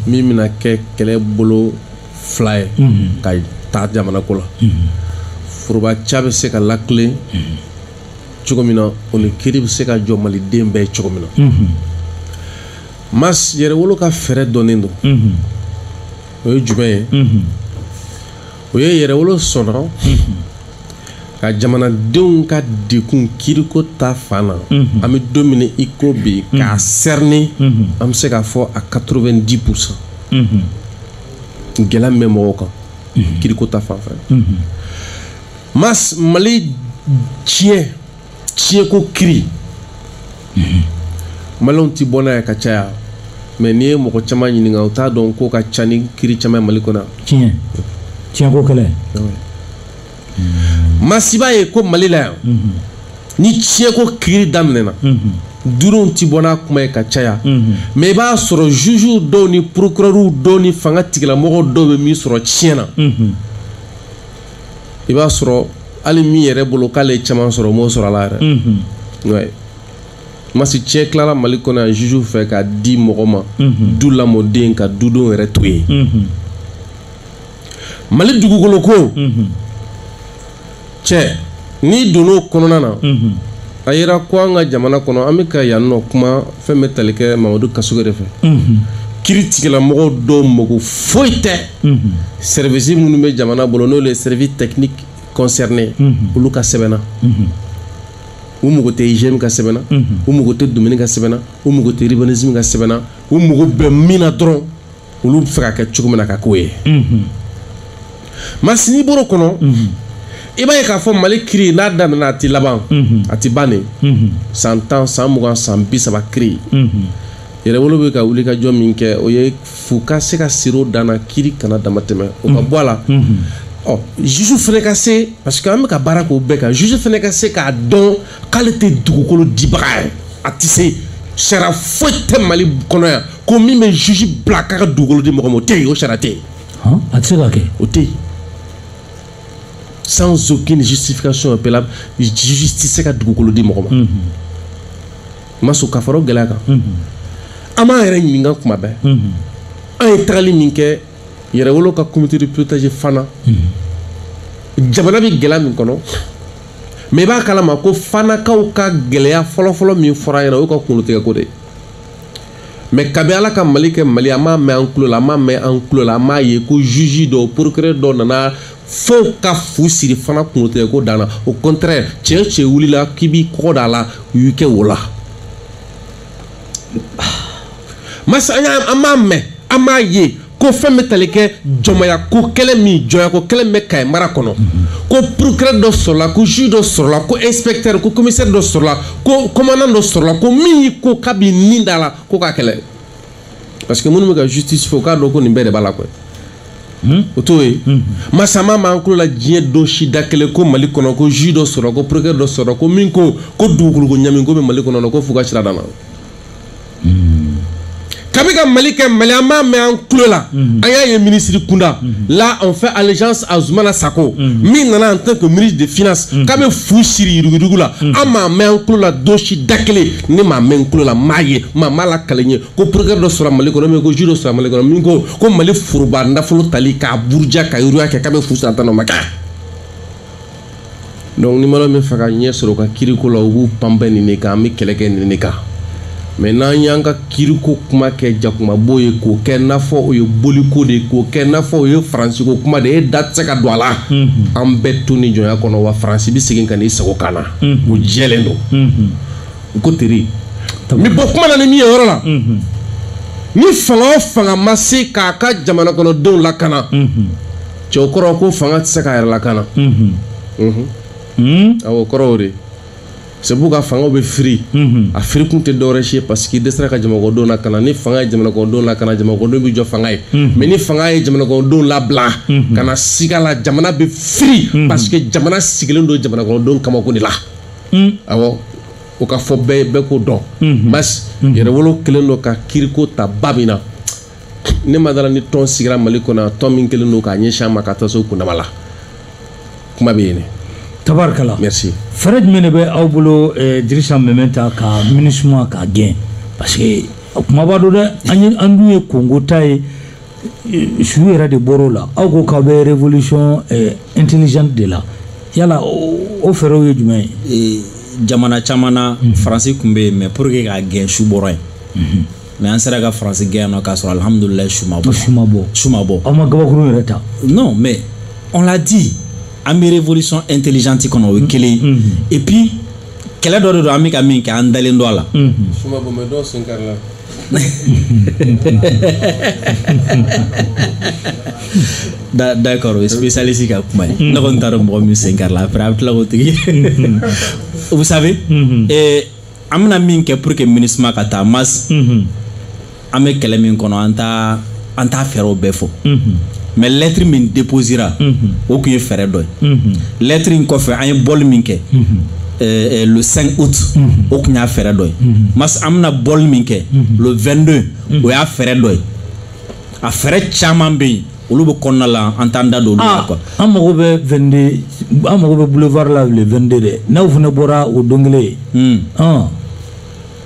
min bɛna kɛ kɛlɛ bolo fila ye ka taa jamana ko la foroba ca bɛ se ka lakile cogo min na o ni kiri bɛ se ka jɔ maliden bɛɛ cogo min na mas yɛrɛwolo ka fɛɛrɛ dɔnnen don o ye jumɛn ye o ye yɛrɛwolo sɔnna ka jamanadenw ka degun kiriko ta fan na mhm. an bɛ don min na i ko bi mhm. k'a cerner mhm. an bɛ se k'a fɔ a 90 pourcent gɛlɛya min bɛ mɔgɔw kan kiriko ta fan fɛ mas mali tiɲɛ tiɲɛko kiri mhm. maliyɛnw ti bɔ n'a ye ka caya mɛ n'i ye mɔgɔ caman ɲininka u t'a dɔn ko ka ca ni kiri caman ye mali kɔnɔ tiɲɛ tiɲɛko kɛlɛ mas i b'a ye ko mali la yan mhm. ni tiɲɛko kiri daminɛna mhm. duuruw ti bɔ n'a kuma ye ka caya mɛ i b'a sɔrɔ juges dɔw ni procureurs dɔw ni fanga tigilamɔgɔ dɔw bɛ min sɔrɔ tiɲɛ na i b'a sɔrɔ hali min yɛrɛ bolo k'ale ye caman sɔrɔ o m'o sɔrɔ a la yɛrɛ mhm. ouais. mas tiɲɛ tilala mali kɔnɔ yan juge fɛ k'a di mɔgɔ ma mhm. du lamɔden ka dudenw yɛrɛ to yen mhm. mali dugukolo ko tiɲɛ n'i donna o kɔnɔna na a yera ko an ka jamana kɔnɔ an bɛ ka yan nɔ kuma fɛn bɛ tali kɛ mamadu kassogué de fɛ kiri tigilamɔgɔw dɔw mako foyi tɛ sɛrivisi minnu bɛ jamana bolo n'o ye service technique concerné olu ka sɛbɛn na u mago tɛ igm ka sɛbɛn na u mago tɛ domaine ka sɛbɛn na u mago tɛ urbanisme ka sɛbɛn na u mago bɛ min na dɔrɔn olu b'a fɛ k'a kɛ cogo min na ka k'o ye mas n'i bɔr'o kɔnɔ i b'a ye k'a fɔ mali kiri n'a daminɛna a tɛ laban a tɛ ban de san tan san mugan san bi saba kiri yɛrɛwolo bɛ ka wulikajɔ min kɛ o ye f'u ka se ka sir'o dan na kiri kana damatɛmɛ o ka bɔ a la ɔ juge fana ka se parce que an bɛ ka baara k'o bɛɛ kan juge fana ka se k'a dɔn k'ale tɛ dugukolo dibaga ye a tɛ se sariya foyi tɛ mali kɔnɔ yan ko min bɛ juge bila k'a ka dugukolo di mɔgɔ ma o tɛ yen o sariya tɛ yen a tɛ se ka kɛ o tɛ yen sans aucune justification au préalable juge tɛ se ka dugukolo di mɔgɔ ma mas ka fara o gɛlɛya kan an b'an yɛrɛ ɲininka kuma bɛɛ an ye tagali min kɛ yɛrɛwolo ka comité de pilotage fana mhm. jamana bɛ gɛlɛya min kɔnɔ mɛ i b'a kalama ko fanakaw ka gɛlɛya fɔlɔfɔlɔ min fɔra ɲɛna o y'u ka kungolotigɛko de ye mɛ kabi ala ka mali kɛ mali an m'a mɛn an tulo la an m'a mɛn an tulo la an m'a ye ko juge dɔw procureur dɔw nana fo ka fu siri fana kungolotigɛko dan na au contraire cɛ cɛ wulila k'i b'i kɔgɔ da a la u y'u kɛ wo la mas an y'a an m'a mɛn an m'a ye ko fɛn bɛ tali kɛ jɔnmaya ko kɛlɛ min jɔnya ko kɛlɛ bɛ kayi mara kɔnɔ ko procureur dɔ sɔrɔla ko juge dɔ sɔrɔla ko inspecteur ko commissaire dɔ sɔrɔla ko commandant dɔ sɔrɔla ko min y'i ko k'a b'i ni da la ko k'a kɛlɛ parce que minnu bɛ ka justice fɔ k'a dɔn ko nin bɛɛ de b'a la koyi hmm? o t'o ye hmm. mas an m'a mɛn an tulo la diɲɛ don si da kelen ko mali kɔnɔ ko juge dɔ sɔrɔla ko procureur dɔ sɔrɔla ko min ko ko dugukolo ko ɲami ko bɛ mali kɔnɔ ko fu ka siri a dan na hmm. kabi ka mali kɛ mali an m'a mɛn an tulo la an y'a ye minisiri kunda la on fait allégeance à Zumana Sako min nana en tant que ministre de finance k'a bɛ fu siri yuruguyurugu la an m'a mɛn an tulo la don si da kelen ne m'a mɛn n tulo la n m'a ye maa m'a lakali n ye ko procureur dɔ sɔrɔ mali kɔnɔ mais ko juge dɔ sɔrɔ mali kɔnɔ min ko ko mali foroba nafolo tali k'a buruja ka yiriya kɛ k'a bɛ fu siri a dan o ma kɛ donc ni mali min fɛ ka ɲɛ sɔrɔ ka kiriko la u b'u banban nin de kan an bɛ kɛlɛ kɛ nin de kan mais n'an y'an ka kiriko kuma kɛ jakumabo ye k'o kɛ n'a fɔ o ye boliko de ye k'o kɛ n'a fɔ o ye faransiko kuma de ye e da tɛ se ka don a la an bɛ to nin jɔnya kɔnɔ wa faransi bɛ segin ka n'i sigi an kan na o jɛlen don u ko teri n bɛ bɔ kuma na ni min ye yɔrɔ la ni fanga o fanga ma se k'a ka jamanakɔnɔdenw lakana cɛ o kɔrɔ ko fanga tɛ se k'a yɛrɛ lakana awɔ kɔrɔ o de c'est pourquoi fangaw bɛ firi a firi kun tɛ dɔwɛrɛ si ye parce que i dɛsɛra ka jamanakɔnɔdenw lakana ni fanga ye jamanakɔnɔdenw lakana jamanakɔnɔdenw bɛ jɔ fanga ye mais ni fanga ye jamanakɔnɔdenw labila ka na siga la jamana bɛ firi parce que jamana sigilen don jamanakɔnɔdenw kamankun de la hmm. awɔ o ka fɔ bɛɛ k'o dɔn hmm. mas hmm. yɛrɛwolo kelen don ka kiriko ta ba min na ne ma da a la ni tɔn sigira mali kɔnɔ tɔn min kelen don k'a ɲɛsin a ma ka taa se o kundama la kuma bɛ yen ne tabarikala merci fɛɛrɛ jumɛn de bɛ aw bolo eh, dirisa meminta ka minisuma k'a gɛn parce que kumaba don dɛ an ye an dun ye kongo ta ye su yɛrɛ de bɔr'o la aw ko k'aw bɛ révolution eh, intelligente de la yala o fɛɛrɛw ye jumɛn ye eh, jamana caman na mhm. faransi tun bɛ yen mais pour que k'a gɛn su bɔra yen mhm. mais an sera ka faransi gɛn yan nɔ k'a sɔrɔ alhamdulilayi su ma bɔ su ma bɔ su ma bɔ aw ma gabakurun yɛrɛ ta non mais on l'a dit an bɛ révolution intelligente kɔnɔ o ye mhm. kelen ye et puis kɛlɛ dɔ de don an bɛ ka min kɛ an dalen don a la su ma bɔ mais dɔw sen karila da d'accord o ye spécialiste ka kuma ye ne kɔni t'a dɔn mɔgɔ min sen karila après a bɛ tila k'o tigi vous savez eh, an bɛna min kɛ pour que minisuma ka taa mas an bɛ kɛlɛ min kɔnɔ an t'a an t'a fɛɛrɛw bɛɛ fɔ mais lettre min déposera o tun ye fɛɛrɛ dɔ ye lettre in kɔfɛ an ye bɔli min kɛ euh, euh, le 5 août o tun y'a fɛɛrɛ dɔ ye mas an bɛna bɔli min kɛ le 22 o y'a fɛɛrɛ dɔ ye a fɛɛrɛ caman bɛ yen olu bɛ kɔnɔna la an t'an da don olu la quoi an mago bɛ 22 an mago bɛ boulevard la le 22 dɛ n'aw fana bɔra o don kelen ɔn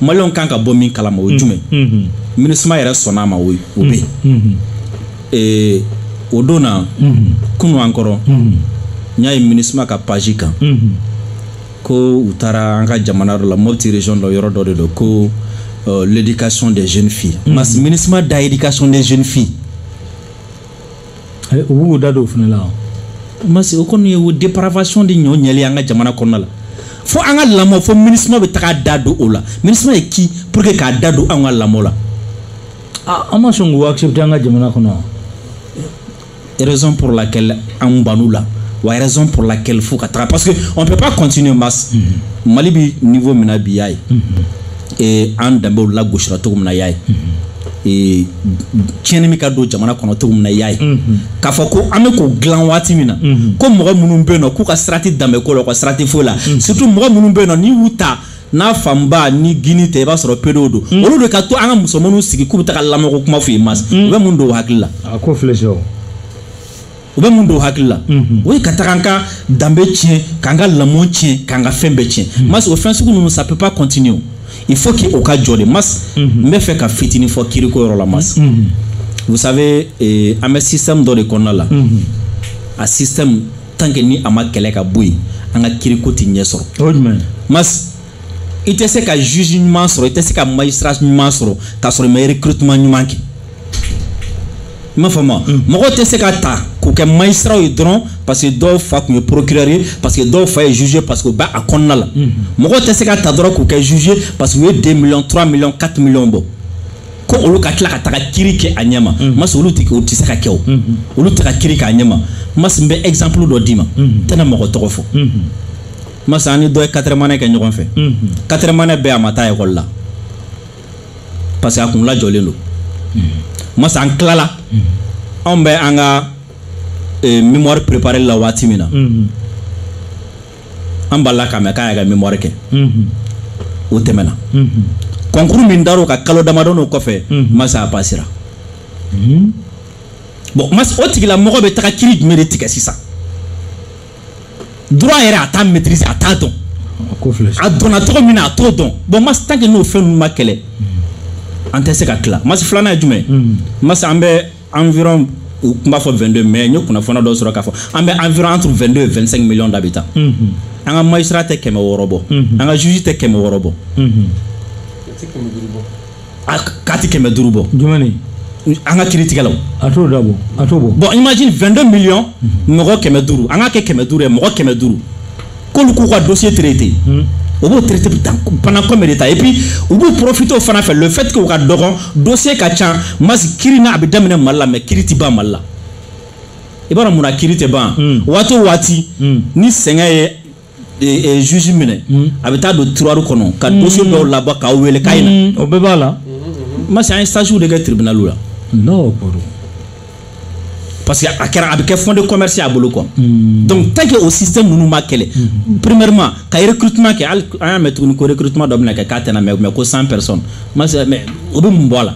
maliyɛnw kan ka bɔ min kalama o ye jumɛn minusma yɛrɛ sɔnna a ma o o bɛ yen o don na kunu an kɔrɔ n y'a ye minusma ka page kan ko u taara an ka jamana dɔ la mopti région la yɔrɔ dɔ de don ko l'éducation des jeunes filles mas minusma da éducation des jeunes filles eh, u b'u da don o fana la mas o kɔni ye o dépravation de ɲɔ ɲɛli an ka jamana kɔnɔna la fo an ka lamɔ fo minusma bɛ taga da don o la minusma ye qui pour que k'a da don an ka lamɔ la ah, an ma sɔn k'u accepter an ka jamana kɔnɔ raison pour laquelle an ban'u la wa raison pour laquelle f'u ka taga parce que on peut pas continuer mas mm -hmm. mali bɛ niveau min na bi y'a ye mm -hmm. an danbew lagosira cogo min na y'a ye mm -hmm. tiɲɛni bɛ ka don jamana kɔnɔ cogo min na i y'a ye k'a fɔ ko an bɛ k'o dilan waati min na ko mɔgɔ minnu bɛ yen nɔ k'u ka sira tɛ danbe ko la u ka sira tɛ foyi la surtout mɔgɔ minnu bɛ yen nɔ n'i y'u ta n'a fanba ni gouine tɛ i b'a sɔrɔ pedow don olu de ka to an ka musomanninw sigi k'u bɛ taga lamɔko kuma f'u ye mas u bɛ mun don u hakili la a ko filɛ sɛ o u bɛ mun don u hakili la o ye ka taga an ka danbe tiɲɛ k'an ka lamɔ tiɲɛ k'an ka fɛn bɛɛ tiɲɛ mas o fɛn sugu ninnu ça peut pas continuer il faut que o ka jɔ de mas n bɛ fɛ ka fitinin fɔ kiriko yɔrɔ la mas vous savez eh, an bɛ système dɔ de kɔnɔna la a système tant que ni a ma kɛlɛ ka bɔ yen an ka kiriko tɛ ɲɛ sɔrɔ o ye jumɛn ye mas i tɛ se ka juge ɲuman sɔrɔ i tɛ se ka magistrat ɲuman sɔrɔ k'a sɔrɔ i ma recrutement ɲuman kɛ i m'a faamu mm. mɔgɔ tɛ se ka ta k'u kɛ magistrat ye dɔrɔn parce que dɔw fa tun ye procureur ye parce que dɔw fa ye juge ye parce que u bɛ a kɔnɔna la mm-hmm. mɔgɔ tɛ se ka ta dɔrɔn k'u kɛ juge ye parce que u ye 2 millions 3 millions 4 millions bɔ ko olu ka tila ka taga kiri kɛ a ɲɛ ma mm-hmm. mas olu tɛ o tɛ se ka kɛ o mm-hmm. olu tɛ ka kiri k'a ɲɛ ma mas n bɛ exemple dɔ d'i ma n tɛna mɔgɔ tɔgɔ fɔ mas an ni dɔ ye quatrième année kɛ ɲɔgɔn fɛ quatrième année bɛɛ a ma taa ekɔli la parce que a kun lajɔlen don mas an tilala anw bɛ an ka eh, mémoire préparé la waati min na an balila k'a mɛn k'a y'a ka mémoire kɛ o tɛmɛna concours min dar'o kan kalo damadɔnin kɔfɛ mas a passera bon mas o tigilamɔgɔ bɛ taga kiri jumɛn de tigɛ sisan droit yɛrɛ a t'a maîtriser a t'a dɔn a donna cogo min na a t'o dɔn bon mas tant que n'o fɛn ninnu ma kɛlɛ an tɛ se ka tila mas filanan ye jumɛn mas an bɛ environ u tun b'a fɔ 22 mais n ye kunnafoniya dɔ sɔrɔ k'a fɔ an bɛ environ entre 22 et 25 millions d'habitants an ka magistrat tɛ kɛmɛ wɔɔrɔ bɔ an ka juge tɛ kɛmɛ wɔɔrɔ bɔ k'a tɛ kɛmɛ duuru bɔ jumɛn ni an ka kiritigɛlaw a t'o da bɔ a t'o bɔ bon imagine 22 millions mɔgɔ kɛmɛ duuru an k'a kɛ kɛmɛ duuru ye mɔgɔ kɛmɛ duuru k'olu k'u ka dossier traiter o b'o traiter pendant combien de temps et puis u b'u profiter o fana fɛ le fait que u ka dɔgɔn dossier ka ca mas kiri na a bɛ daminɛ mali la mais kiri tɛ ban mali la i b'a dɔn mun na kiri tɛ ban waati o waati ni sɛgɛn ye juge minɛ hmm. a bɛ taa don tiroir kɔnɔ ka hmm. dossier dɔw labɔ k'aw wele k'a ye na hmm. o bɛɛ b'a la mas an ye stage de kɛ tribunal la non kɔrɔ parce que a kɛra a bɛ kɛ fonds de commerce a bolo quoi donc tant que o système ninnu ma kɛlɛ premièrement ka recrutement kɛ hali an y'a mɛn tuguni ko recrutement dɔ bɛna kɛ k'a tɛna mɛn mais ko 100 personnes mas mais o bɛ mun bɔ a la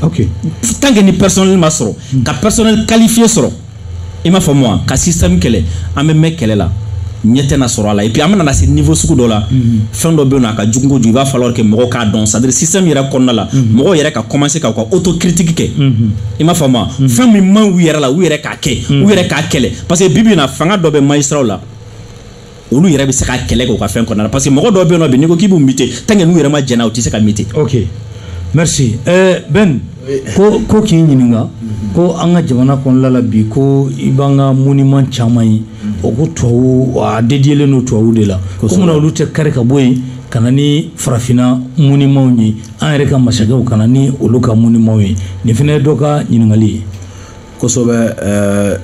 ok tant que ni personnel ma sɔrɔ hmm. ka personnel qualifié sɔrɔ i m'a faamu wa ka système kɛlɛ an bɛ mɛn kɛlɛ la ɲɛ tɛna sɔrɔ a la et puis an bɛna na se niveau sugu dɔ la hmm. fɛn dɔ bɛ yen nɔ a ka jugu kojugu il va falloir que mɔgɔw k'a dɔn c'est à dire système yɛrɛ kɔnɔna la hmm. mɔgɔw yɛrɛ ka commencer ka u ka autocritique kɛ i m'a faamu wa fɛn min man ɲi u yɛrɛ la u yɛrɛ k'a kɛ u yɛrɛ k'a kɛlɛ parce que bi bi in na fanga dɔ bɛ magistrats la olu yɛrɛ bɛ se ka kɛlɛ kɛ u ka fɛn kɔnɔna na parce que mɔgɔ dɔw bɛ yen nɔ bi n'i ko k'i b'u muter tant que n'u yɛrɛ ma jɛna u tɛ se ka muter. ok merci euh, Ben ko k'i ɲininka ko an ka jamana kɔnɔna la bi ko i b'an ka monument caman ye o ko tubabu a dediyelen don tubabu de la ko munna olu tɛ kari ka bɔ yen ka na ni farafinna monumentw ye an yɛrɛ ka masakɛw ka na ni olu ka monumentw ye nin fana ye dɔ ka ɲininkali ye. kosɛbɛ eh,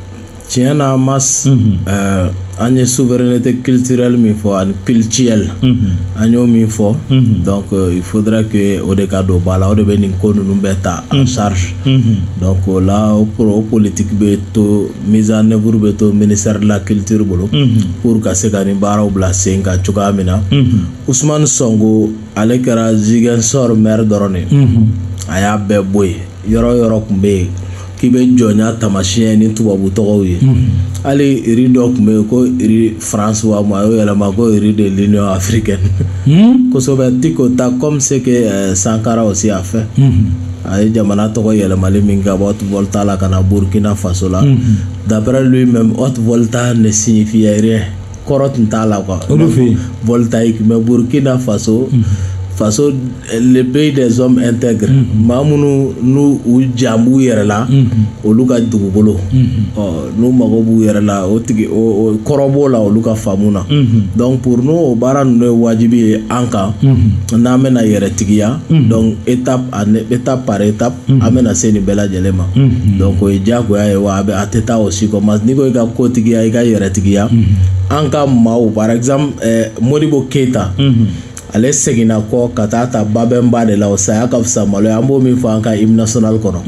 tiɲɛ na mas mhm. eh, an ye souveraineté culturelle min fɔ ani cultuelle mhm. an y'o min fɔ mhm. donc euh, il faudra que o de ka don ba la o de bɛ nin ko ninnu bɛɛ ta en mhm. charge donc o la o politique bɛ to mise en œuvre bɛ to ministère de la culture bolo pour ka se ka nin baaraw bila sen kan cogoya min na Ousmane Sonko ale kɛra Ziguinchor maire dɔrɔn de ye a y'a bɛɛ bɔ yen yɔrɔ yɔrɔ tun bɛ yen k'i bɛ jɔnya tamasiyɛn ni tubabu tɔgɔw ye hali rue dɔ tun bɛ yen ko rue France wa ma a y'o yɛlɛma ko rue de l'union africaine kosɛbɛ tiko ta comme ce que euh, sankara aussi a fait a ye jamana tɔgɔ yɛlɛmali min kɛ ka bɔ haute volta la ka na burkina faso la d'après lui même haute volta ne signifiait rien kɔrɔ tun t'a la quoi voltaïque mais burukina faso mhm. faso eh, le pays des hommes intègres mhm. maa minnu n'u u jan b'u yɛrɛ la mhm. olu ka dugukolo ɔ n'u mago b'u yɛrɛ la o tigi o kɔrɔ b'o la olu ka faamu na donc pour nous o baara ninnu ye wajibi ye an kan n'an bɛna yɛrɛtigiya donc étape par étape Mm-hmm. an bɛna se nin bɛɛ lajɛlen ma mm-hmm. donc o ye diyagoya ye wa a bɛ a tɛ taa o si kɔ mais n'i ko i ka kotigiya i ka yɛrɛtigiya mm-hmm. an ka maaw par exemple eh, modibo keyita ale seginna kɔ ka taa ta babɛnba de la o saya ka fisa malo ye an b'o min fɔ an ka hymne national kɔnɔ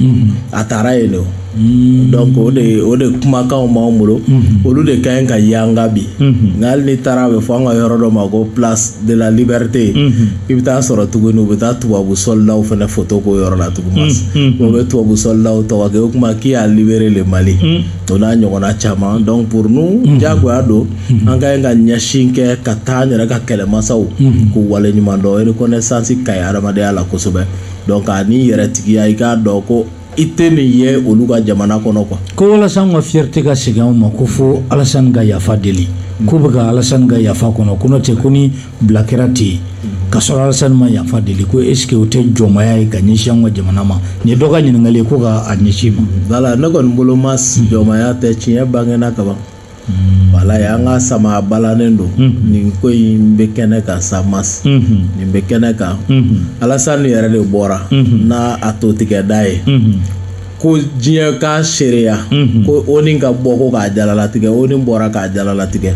a tara yen de o Mm. donc o de o de kumakanw b'an bolo mm-hmm. olu de ka ɲi ka yanga bi mm-hmm. nka hali n'i taara a bɛ fɔ an ka yɔrɔ dɔ ma ko place de la liberté mm-hmm. i bɛ taa sɔrɔ tuguni u bɛ taa tubabu sɔlidaw fana foto k'o yɔrɔ la tuguni o bɛ tubabu sɔlidaw tɔgɔ kɛ o kuma qui a libéré le Mali o n'a ɲɔgɔnna caman donc pour nous diyagoya don an ka ɲi ka ɲɛsin kɛ ka taa an yɛrɛ ka kɛlɛmasaw k'u waleɲuman dɔn reconnaissance ka ɲi hadamadenya la kosɛbɛ donc ani yɛrɛtigiya i k'a dɔn ko i tɛ nin ye olu ka jamana kɔnɔ quoi ko walasa an ka fierté ka segin anw ma ko fo alasani ka yafa deli k'u bɛ ka alasani ka yafa kɔnɔ ko n'o tɛ ko ni bila kɛra ten k'a sɔrɔ alasani ma yafa deli ko est ce que o tɛ jɔnmaya ye ka ɲɛsin an ka jamana ma nin ye dɔ ka ɲininkali ye ko ka a ɲɛsin ma wala ne kɔni bolo Mas jɔnmaya tɛ tiɲɛ bangena kaban ye an ka sama balannen don ni ko in bɛ kɛnɛ kan sa Mas nin bɛ kɛnɛ kan alasani yɛrɛ de bɔra n' a to tigɛda ye ko diɲɛ k'a seereya ko ONU ka bɔ ko k'a jalalatigɛ ONU bɔra k'a jalalatigɛ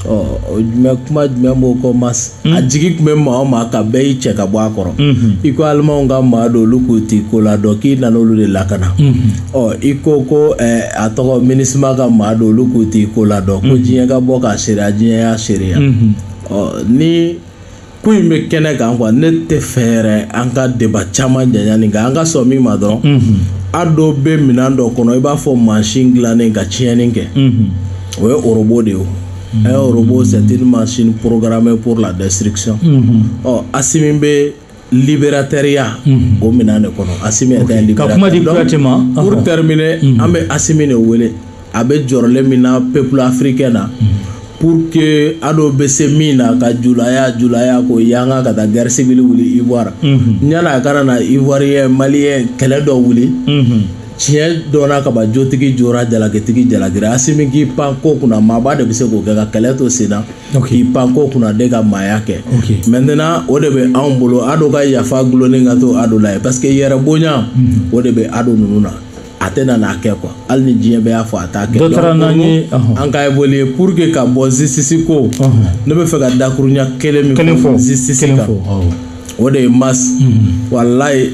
ɔ jumɛn kuma jumɛn b'o kɔ Mas a jigi tun bɛ maa o maa kan bɛɛ y'i cɛ ka bɔ a kɔrɔ i ko alimanw ka maa don olu k'u ti ko la dɔn k'i nana olu de lakana ɔ i ko ko a tɔgɔ MINUSMA ka maa don olu k'u ti ko la dɔn ko diɲɛ ka bɔ k'a seereya diɲɛ y'a seereya ɔ ni ko in bɛ kɛnɛ kan quoi ne t'a fɛ yɛrɛ an ka débat caman janya nin kan an ka sɔn min ma dɔrɔn ADO bɛ minɛn dɔ kɔnɔ i b'a fɔ mansin dilannen ka tiɲɛni kɛ o ye robot de ye un robot c'est une machine programmée pour la destruction ɔ Asimi bɛ libérateurya o minɛn de kɔnɔ Asimi est un libérateur ka kuma di Kuyate ma pour terminer an bɛ Asimi de wele a bɛ jɔrɔlen min na peuple africain na pour que ADO bɛ se min na ka julaya julaya ko yanga ka taa guerre civile wuli Ivoire yan a kana na Ivoirien Malien kɛlɛ dɔ wuli tiɲɛ dɔnna kaba jotigi jora jalakitigi jalakira asimi k'i pan ko kunna maaba de bɛ se k'o kɛ ka kɛlɛ to sen na k'i pan ko kunna de ka maaya kɛ maintenant o de bɛ anw bolo ado ka yafa gulonnen ka to ado la ye parce que yɛrɛ bonya o de bɛ ado ninnu na a tɛ na n'a kɛ quoi hali ni diɲɛ bɛɛ y'a fɔ a t'a kɛ dɔ taara n'an ye an ka évoluer pour que ka bɔ justice ko ne bɛ fɛ ka dakurunya kelen min fɔ justice kan o de ye mas walayi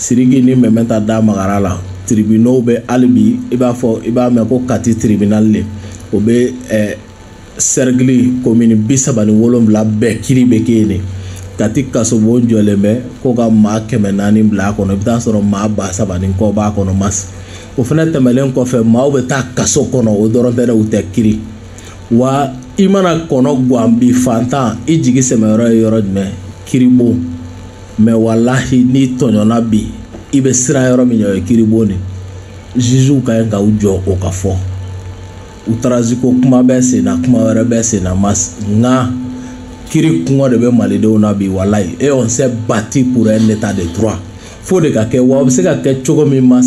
Siriki ni mɛmɛ ta da magara la tribunaux bɛ hali bi i b'a fɔ i b'a mɛn ko kati tribunal le o bɛ eh, cercle commune bi saba ni wolonwula bɛɛ kiri bɛ kɛ yen de kati kasobon jɔlen bɛ ko ka maa kɛmɛ naani bila a kɔnɔ i bɛ taa sɔrɔ maa ba saba ni kɔ b'a kɔnɔ mas o fana tɛmɛlen kɔfɛ maaw bɛ taa kaso kɔnɔ o dɔrɔn tɛ dɛ u tɛ kiri wa i mana kɔnɔ gan bi fantan i jigi sɛmɛyɔrɔ ye yɔrɔ jumɛn kiribon mais walayi n'i tɔɲɔna bi i bɛ siran yɔrɔ min ɲɛ o ye kiribon de juges ka ɲi ka u jɔ o ka fɔ outrage ko kuma bɛ sen na kuma wɛrɛ bɛ sen na mas nka kiri kɔngɔ de bɛ malidenw na bi walayi et on s'est battu pour un état de droit f'o de ka kɛ wa o bɛ se ka kɛ cogo min mas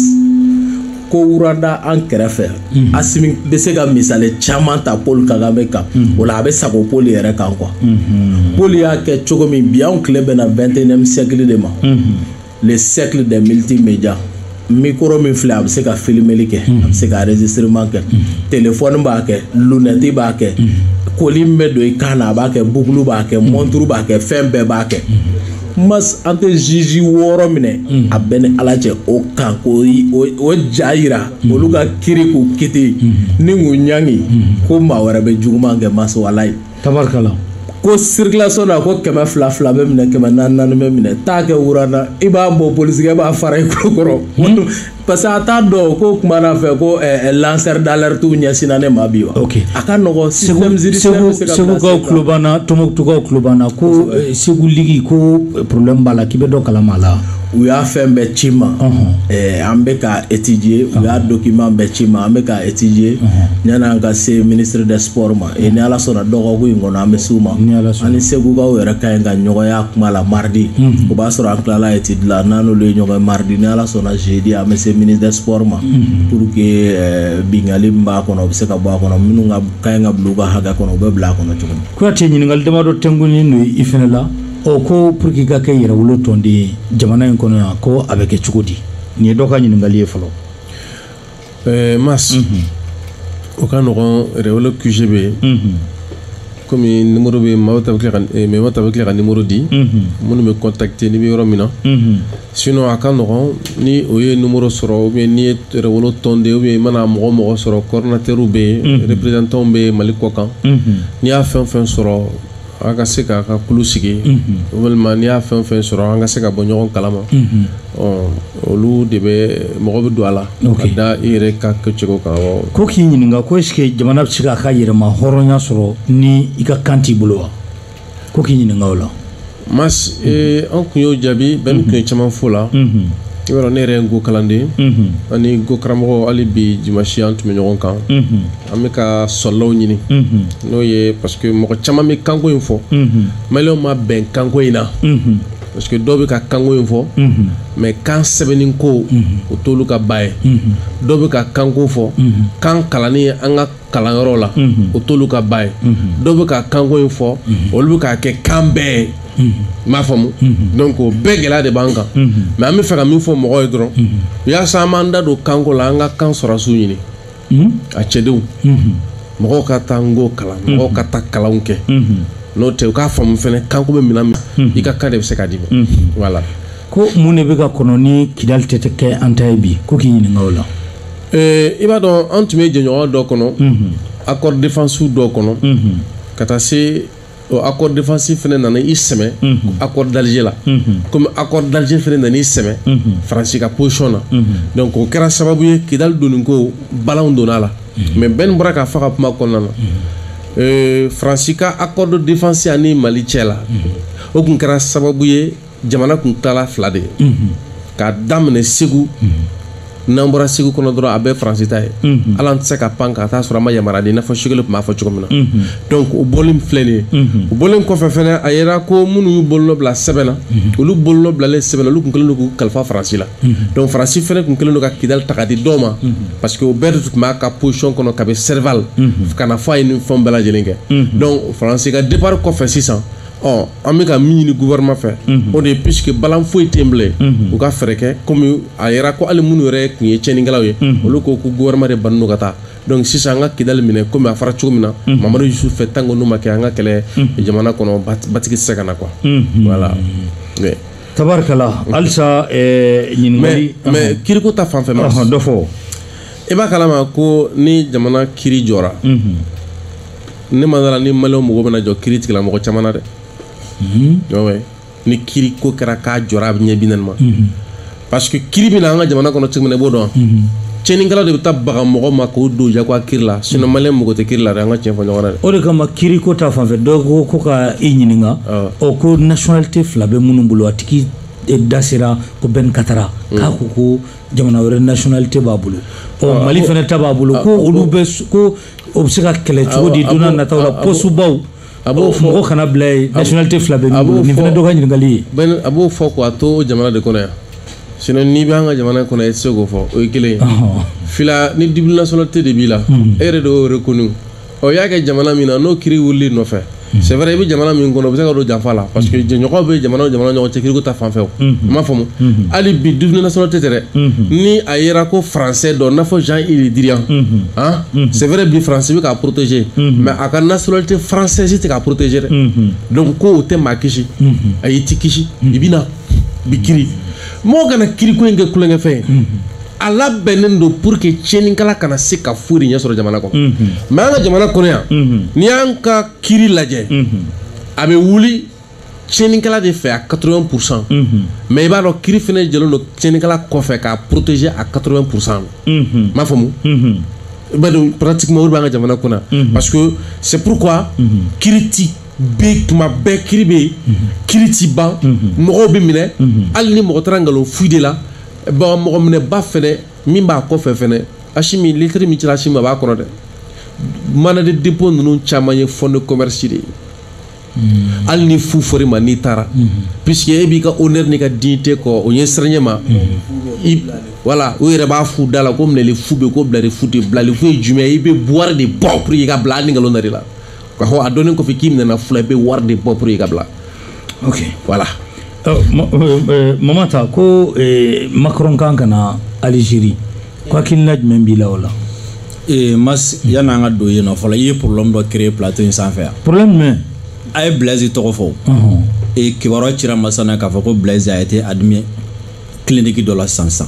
ko rwanda an kɛrɛfɛ mhm. asimi bɛ se ka misali caman ta paul kagame kan mhm. o la a bɛ sago paul yɛrɛ kan quoi mhm. paul y'a kɛ cogo min bi anw tile bɛnna vingt et unième siècle de ma le siècle des multimédias mikoro min filɛ a bɛ se ka filimeli kɛ a bɛ se ka enregistrement kɛ telefɔni b'a kɛ lunɛti b'a kɛ collier min bɛ don i kan na a b'a kɛ boucle b'a kɛ mɔnturu b'a kɛ fɛn bɛɛ b'a kɛ mas an tɛ juge wɔɔrɔ minɛ hmm. a bɛɛ ni ala cɛ o kan k'o ja yira hmm. olu ka kiri k'u kiti hmm. ni k'u ɲangi ko maa wɛrɛ bɛ juguman kɛ mas walayi tabarikala ko circulation na ko kɛmɛ fila fila bɛ minɛ kɛmɛ naani naani bɛ minɛ taa kɛ wurana i b'a bɔ polisikɛ b'a fara i kulo kɔrɔ parce que a t'a dɔn ko kuma na fɛ ko eh, eh, lanceur d'alerte ɲɛsinna ne ma bi wa okay. a ka nɔgɔ système judiciaire bɛ se ka segukaw tulo b'an na tɔnbukutukaw tulo b'an na ko eh, segu ligue ko problème b'a la k'i bɛ dɔ kalama la u y'a fɛn bɛɛ ci ma eh, an bɛ ka étudier u y'a document bɛɛ ci ma an bɛ ka étudier yanni an ka se ministre des sports ma et ni ala sɔnna dɔgɔkun in kɔnɔ an bɛ s'u ma an ni segukaw yɛrɛ ka ɲi ka ɲɔgɔn ye kuma la mardi o b'a sɔrɔ an tilala étude la n'an n'olu ye ɲɔgɔn mardi ni ala sɔnna jeudi an bɛ se ministre des sports ma pour que bingali min b'a kɔnɔ o bɛ se ka bɔ a kɔnɔ minnu ka ɲi ka bila u ka hakɛ kɔnɔ u bɛ bila a kɔnɔ cogo min kuyate ɲininkali damadɔ tɛnkunnen don i fana la ɔ ko pour que i ka kɛ yɛrɛwolo tɔnden ye jamana in kɔnɔ yan ko a bɛ kɛ cogo di nin ye dɔ ka ɲininkali ye fɔlɔ ɛɛ mas o ka nɔgɔn yɛrɛwolo QG bɛ yen kɔmi nimoro bɛ memeta bɛ tila ka nimoro di minnu bɛ kɔntakite n'i bɛ yɔrɔ min na sinɔn a ka nɔgɔn ni o ye nimoro sɔrɔ ou bien n'i ye yɛrɛwolo tɔnden ou bien i mana mɔgɔ mɔgɔ sɔrɔ coordinateurs bɛ yen représentants bɛ mali kɔ kan n'i y'a fɛn fɛn sɔrɔ an ka se k'a ka kulu sigi walima n'i y'a fɛn fɛn sɔrɔ an ka se ka bɔ ɲɔgɔn kalama olu de bɛ mɔgɔ bɛ don a la ka da i yɛrɛ ka kɛcogo kan ko k'i ɲininka ko est-ce que jamana bɛ se k'a ka yɛrɛmahɔrɔnya sɔrɔ ni i ka kan t'i bolo wa ko k'i ɲininka o la mas an tun y'o jaabi Ben tun ye caman fɔ a la i y'a dɔn ne yɛrɛ ye n'ko kalanden ani n'ko karamɔgɔ hali bi dimansi an tun bɛ ɲɔgɔn kan an bɛ ka soldats ɲini n'o ye parce que mɔgɔ caman bɛ kanko in fɔ maliyɛnw ma bɛn kanko in na parce que dɔw bɛ ka kanko in fɔ mais kan sɛbɛnni ko o t'olu ka ba ye dɔw bɛ ka kanko fɔ kan kalanni an ka kalanyɔrɔ la o t'olu ka ba ye dɔw bɛ ka kanko in fɔ olu bɛ k'a kɛ kan bɛɛ ye m'a faamu donc o bɛɛ gɛlɛya de b'an kan mais an bɛ fɛ ka min fɔ mɔgɔw ye dɔrɔn yasa an b'an da don kanko la an ka kan sɔrɔdasiw ɲini a cɛdenw mɔgɔw ka taa n'ko kalan mɔgɔw ka taa kalanw kɛ n'o tɛ u k'a faamu fɛnɛ kanko bɛ minɛn min i ka kan de bɛ se ka d'i ma voilà ko mun de bɛ ka kɔnɔ ni kidali tɛ kɛ an ta ye bi ko k'i ɲininka o la i b'a dɔn an tun bɛ jɛɲɔgɔnya dɔ kɔnɔ accord défensif dɔ kɔnɔ ka taa se o accord défensif fɛnɛ nana i sɛmɛ accord d'Alger la comme accord d'Alger fɛnɛ nana i sɛmɛ France ka position na donc o kɛra sababu ye Kidali donni ko balanw donna a la mais Ben bɔra k'a fɔ a ka kuma kɔnɔna na euh, France ka accord de défense ani Mali cɛ la o tun kɛra sababu ye jamana tun tilala fila de ye k'a daminɛ segu n'an bɔra segu kɔnɔ dɔrɔn a bɛɛ faransi ta ye hali an tɛ se ka pan ka taa sɔrɔ a ma yamaruya di i n'a fɔ Choguel tun b'a fɔ cogo min na donc o bɔlen filɛ nin ye o bɔlen kɔfɛ fɛnɛ a yera ko minnu y'u bolonɔ bila sɛbɛn na olu bolonɔ bilalen sɛbɛn na olu tun kɛlen don k'u kalifa faransi la donc faransi fɛnɛ tun kɛlen don ka kidali ta k'a di dɔw ma parce que o bɛɛ de tun b'a ka position kɔnɔ kabi serval ka na fo a ye nin fɛnw bɛɛ lajɛlen kɛ donc faransi ka départ kɔfɛ sisan ɔ an bɛ ka min ɲini gouvernement fɛ o de ye puisque balan foyi tɛ yen bilen u ka fɛɛrɛ kɛ komi a yera ko hali minnu yɛrɛ tun ye tiɲɛnikɛlaw ye olu ko ko gouvernement de bannen don ka taa donc sisan an ka kidali minɛ komi a fɔra cogo min na mamadu yusufu fɛ tant que n'o ma kɛ an ka kɛlɛ jamana kɔnɔ ba- basigi tɛ se ka na quoi voilà mais tabarikala halisa eh, mais ɲininkali mais kiriko ta fan fɛ ma Ɔhɔn, dɔ fɔ i b'a kalama ko ni jamana kiri jɔra ne ma da a la ni maliyɛnw mago bɛna jɔ kiritigɛla mɔgɔ caman na dɛ mhm. ni kiri ko kɛra k'a jɔra a bɛ ɲɛ bi naani ma mhm. parce que kiri bɛ na an ka jamana kɔnɔ cogo min na i b'o dɔn mhm. cɛnnikɛla de bɛ taa baga mɔgɔ ma k'o don jagoya kiri la sinon maliyɛn mago tɛ kiri la dɛ an ka tiɲɛ fɔ ɲɔgɔn na dɛ o de kama kiri ko ta fanfɛ dɔ ko ko ka i ɲininka ɔ ko nationalité fila bɛ minnu bolo a tigi e da sera ko ben katara mm. k'a ko ko jamana wɛrɛ nationalité b'a bolo ɔ mali fana ta b'a bolo ko olu bɛ ko o bɛ se ka kɛlɛ cogo di don nataw la pɔsubaw a b'o fɔ mɔgɔ kana bila yen nationalité fila bɛ min bolo nin fana dɔ ka ɲininkali ye a b'o fɔ k'a to jamana de kɔnɔ yan sinon n'i bɛ an ka jamana kɔnɔ i tɛ se k'o fɔ o ye kelen ye fila ni double nationalité de b'i la e yɛrɛ de y'o reconnu ɔ i y'a kɛ jamana min na n'o kiri wulil'i nɔfɛ c'est vrai i bɛ jamana min kɔnɔ o bɛ se ka don janfa la parce que jɛɲɔgɔn bɛ jamana jamana ɲɔgɔn cɛ kiriko ta fanfɛ i m'a faamu hali bi double nationalité tɛ dɛ ni a yera ko français don n'a fɔ jean yves le drian c'est vrai bi faransi bɛ k'a protéger mais a ka nationalité française tɛ k'a protéger dɛ donc ko o tɛ maa kisi ayi i tɛ kisi i bɛ na b'i kiri mɔgɔ kana kiriko in kɛ tulonkɛfɛn ye a labɛnnen don pour que tiɲɛnikɛla kana se ka foyi de ɲɛ sɔrɔ jamana kɔnɔ mhm. mais an ka jamana kɔnɔ yan mhm. n'i y'an ka kiri lajɛ mhm. a bɛ wuli tiɲɛnikɛla de fɛ à 80 pourcent mais i b'a dɔn kiri fana jɛlen don tiɲɛnikɛla kɔfɛ k'a protéger à 80 pourcent m'a faamu i b'a dɔn pratiquement o de b'an ka jamana kunna parce que c'est pourquoi kiri ti bɛ tuma bɛɛ kiri bɛ yen kiri ti ban mɔgɔw bɛ minɛ hali ni mɔgɔ taara nkalon fu d'e la bon mɔgɔ minɛba fɛnɛ min b'a kɔfɛ fɛnɛ asimi lɛtiri min cira asimi a b'a kɔnɔ dɛ mandat de dépôt ninnu caman ye fonds de commerce de ye hmm. hali ni fu fɔr'i ma n'i taara hmm. puisque e b'i ka honneur n'i ka dignité kɔ o ɲɛsiranɲɛ ma voilà u yɛrɛ b'a f'u da la ko minɛli fu bɛ ko bilali fu tɛ bilali fu ye jumɛn ye i bɛ wari de bɔ pour que i ka bila hali ni nkalon dar'i la k'a fɔ a dɔnnen kɔfɛ k'i minɛna fu la i bɛ wari de bɔ pour i ka bila ok voilà euh, euh, euh, mama ta ko macron kan ka na algérie ko hakilina jumɛn b'i la o la mas yanni an ka don yen nɔ fɔlɔ i ye problème dɔ créer plateau in sanfɛ yan problème jumɛn a ye blaise tɔgɔ fɔ e kibaruya cira masana k'a fɔ ko blaise a été admis clinique dɔ la sisan sisan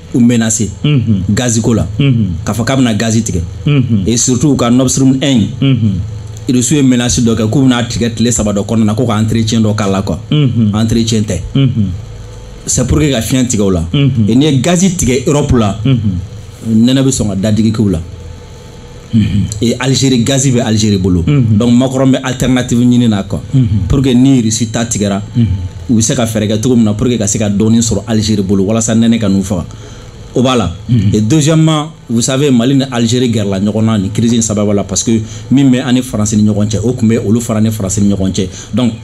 u menase gazi ko la k'a fɔ k'a bɛna gazi tigɛ et surtout u ka nord stream 1 in irisiw ye menasi dɔ kɛ k'u bɛna tigɛ tile saba dɔ kɔnɔna na ko ka entretien dɔ k'a la quoi entretien tɛ c'est pour que ka fiɲɛ tigɛ u la et n'i ye gazi tigɛ europe la nɛnɛ bɛ sɔn ka dadigi k'u la ee alizeri gazi bɛ alizeri bolo donc makɔrɔn bɛ alternative ɲini na quoi pour que ni irisi ta tigɛra u bɛ se ka fɛɛrɛ kɛ cogo min na pour que ka se ka dɔɔni sɔrɔ alizeri bolo walasa nɛnɛ kan'u faga o b'a la et deuxièmement vous savez mali ni algérie gɛrɛla ɲɔgɔn na nin crise in sababu la parce que min bɛ an ni faransi ni ɲɔgɔn cɛ o tun bɛ olu fana ni faransi ni ɲɔgɔn cɛ donc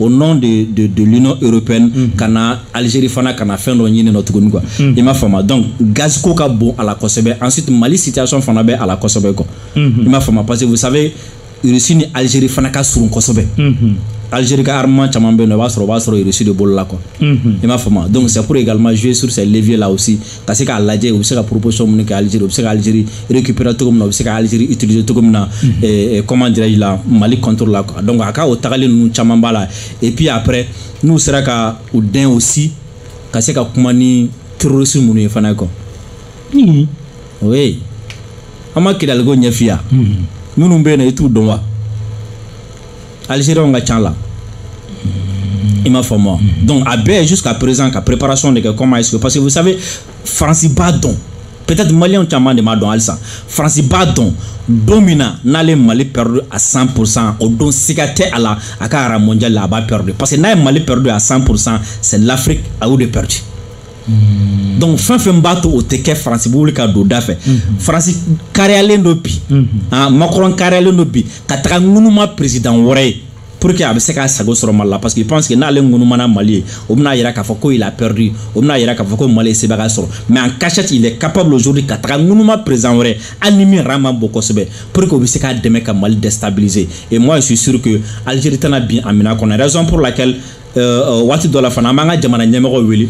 au nom de, de, de l'Union européenne mm -hmm. kana Algérie fana kana fɛn dɔ ɲini nɔ tuguni quoi mm -hmm. i m'a faamuya donc gaz ko ka bon a la kosɛbɛ ensuite Mali situation fana bɛ a la kosɛbɛ quoi mm -hmm. i m'a faamuya parce que vous savez Russie ni Algérie fana ka surun kosɛbɛ mm -hmm. Algérie ka armement caman bɛ yen nɔ i b'a sɔrɔ o b'a sɔrɔ Russie de bolo la quoi mm -hmm. i m'a faamuya donc c'est pour également jouer sur ces leviers là aussi ka se k'a lajɛ u bɛ se ka proposition minnu kɛ Algérie u bɛ se ka Algérie récupérer cogo min na u bɛ se ka Algérie utiliser cogo min na mhm. eh, eh, comment dirais-je la Mali contre la quoi donc a ka o tagali ninnu caman b'a la et puis après n'u sera ka u dɛn aussi ka se ka kuma ni terroriste minnu ye fana quoi mhm. oui an ma kidali ko ɲɛfiya mhm. minnu bɛ yen nɔ i t'u dɔn wa alizeriyanw ka ca a la i m'a faamu donc a bɛ jusqu'à présent ka préparation de kɛ comment est-ce que parce que vous savez faransi b'a dɔn peut-être maliyɛnw caman de m'a dɔn halisa faransi b'a dɔn don min na n'ale ye mali pɛrɛdu a 100 pourcent o don siga tɛ a la a ka rang mondial la a b'a pɛrɛdu parce que n'a ye mali pɛrɛdu a 100 pourcent c'est l'afrique a y'o de pɛrɛdu Mm. donc fɛn fɛn b'a to o tɛ kɛ faransi bɛ wuli ka don da fɛ mm-hmm. faransi kariyalen don bi mm-hmm. ah, makɔrɔn kariyalen don bi ka taga ŋunuma peresidan wɛrɛ ye pour que a bɛ se k'a sago sɔrɔ mali la parce qu'il pense que n'ale ŋunumana mali ye o bɛna yira k'a fɔ ko il a perdu o bɛna yira k'a fɔ ko mali ye sebaga sɔrɔ mais en cachette il est capable aujourd'hui ka taga ŋunuma président wɛrɛ hali ni min rang man bon kosɛbɛ pour que o bɛ se k'a dɛmɛ ka mali déstabiliser et moi je suis sûr que algérie tɛna bin a minɛ kɔnɔ raison pour laquelle waati dɔ la fana an b'an ka jamana ɲɛmɔgɔw wele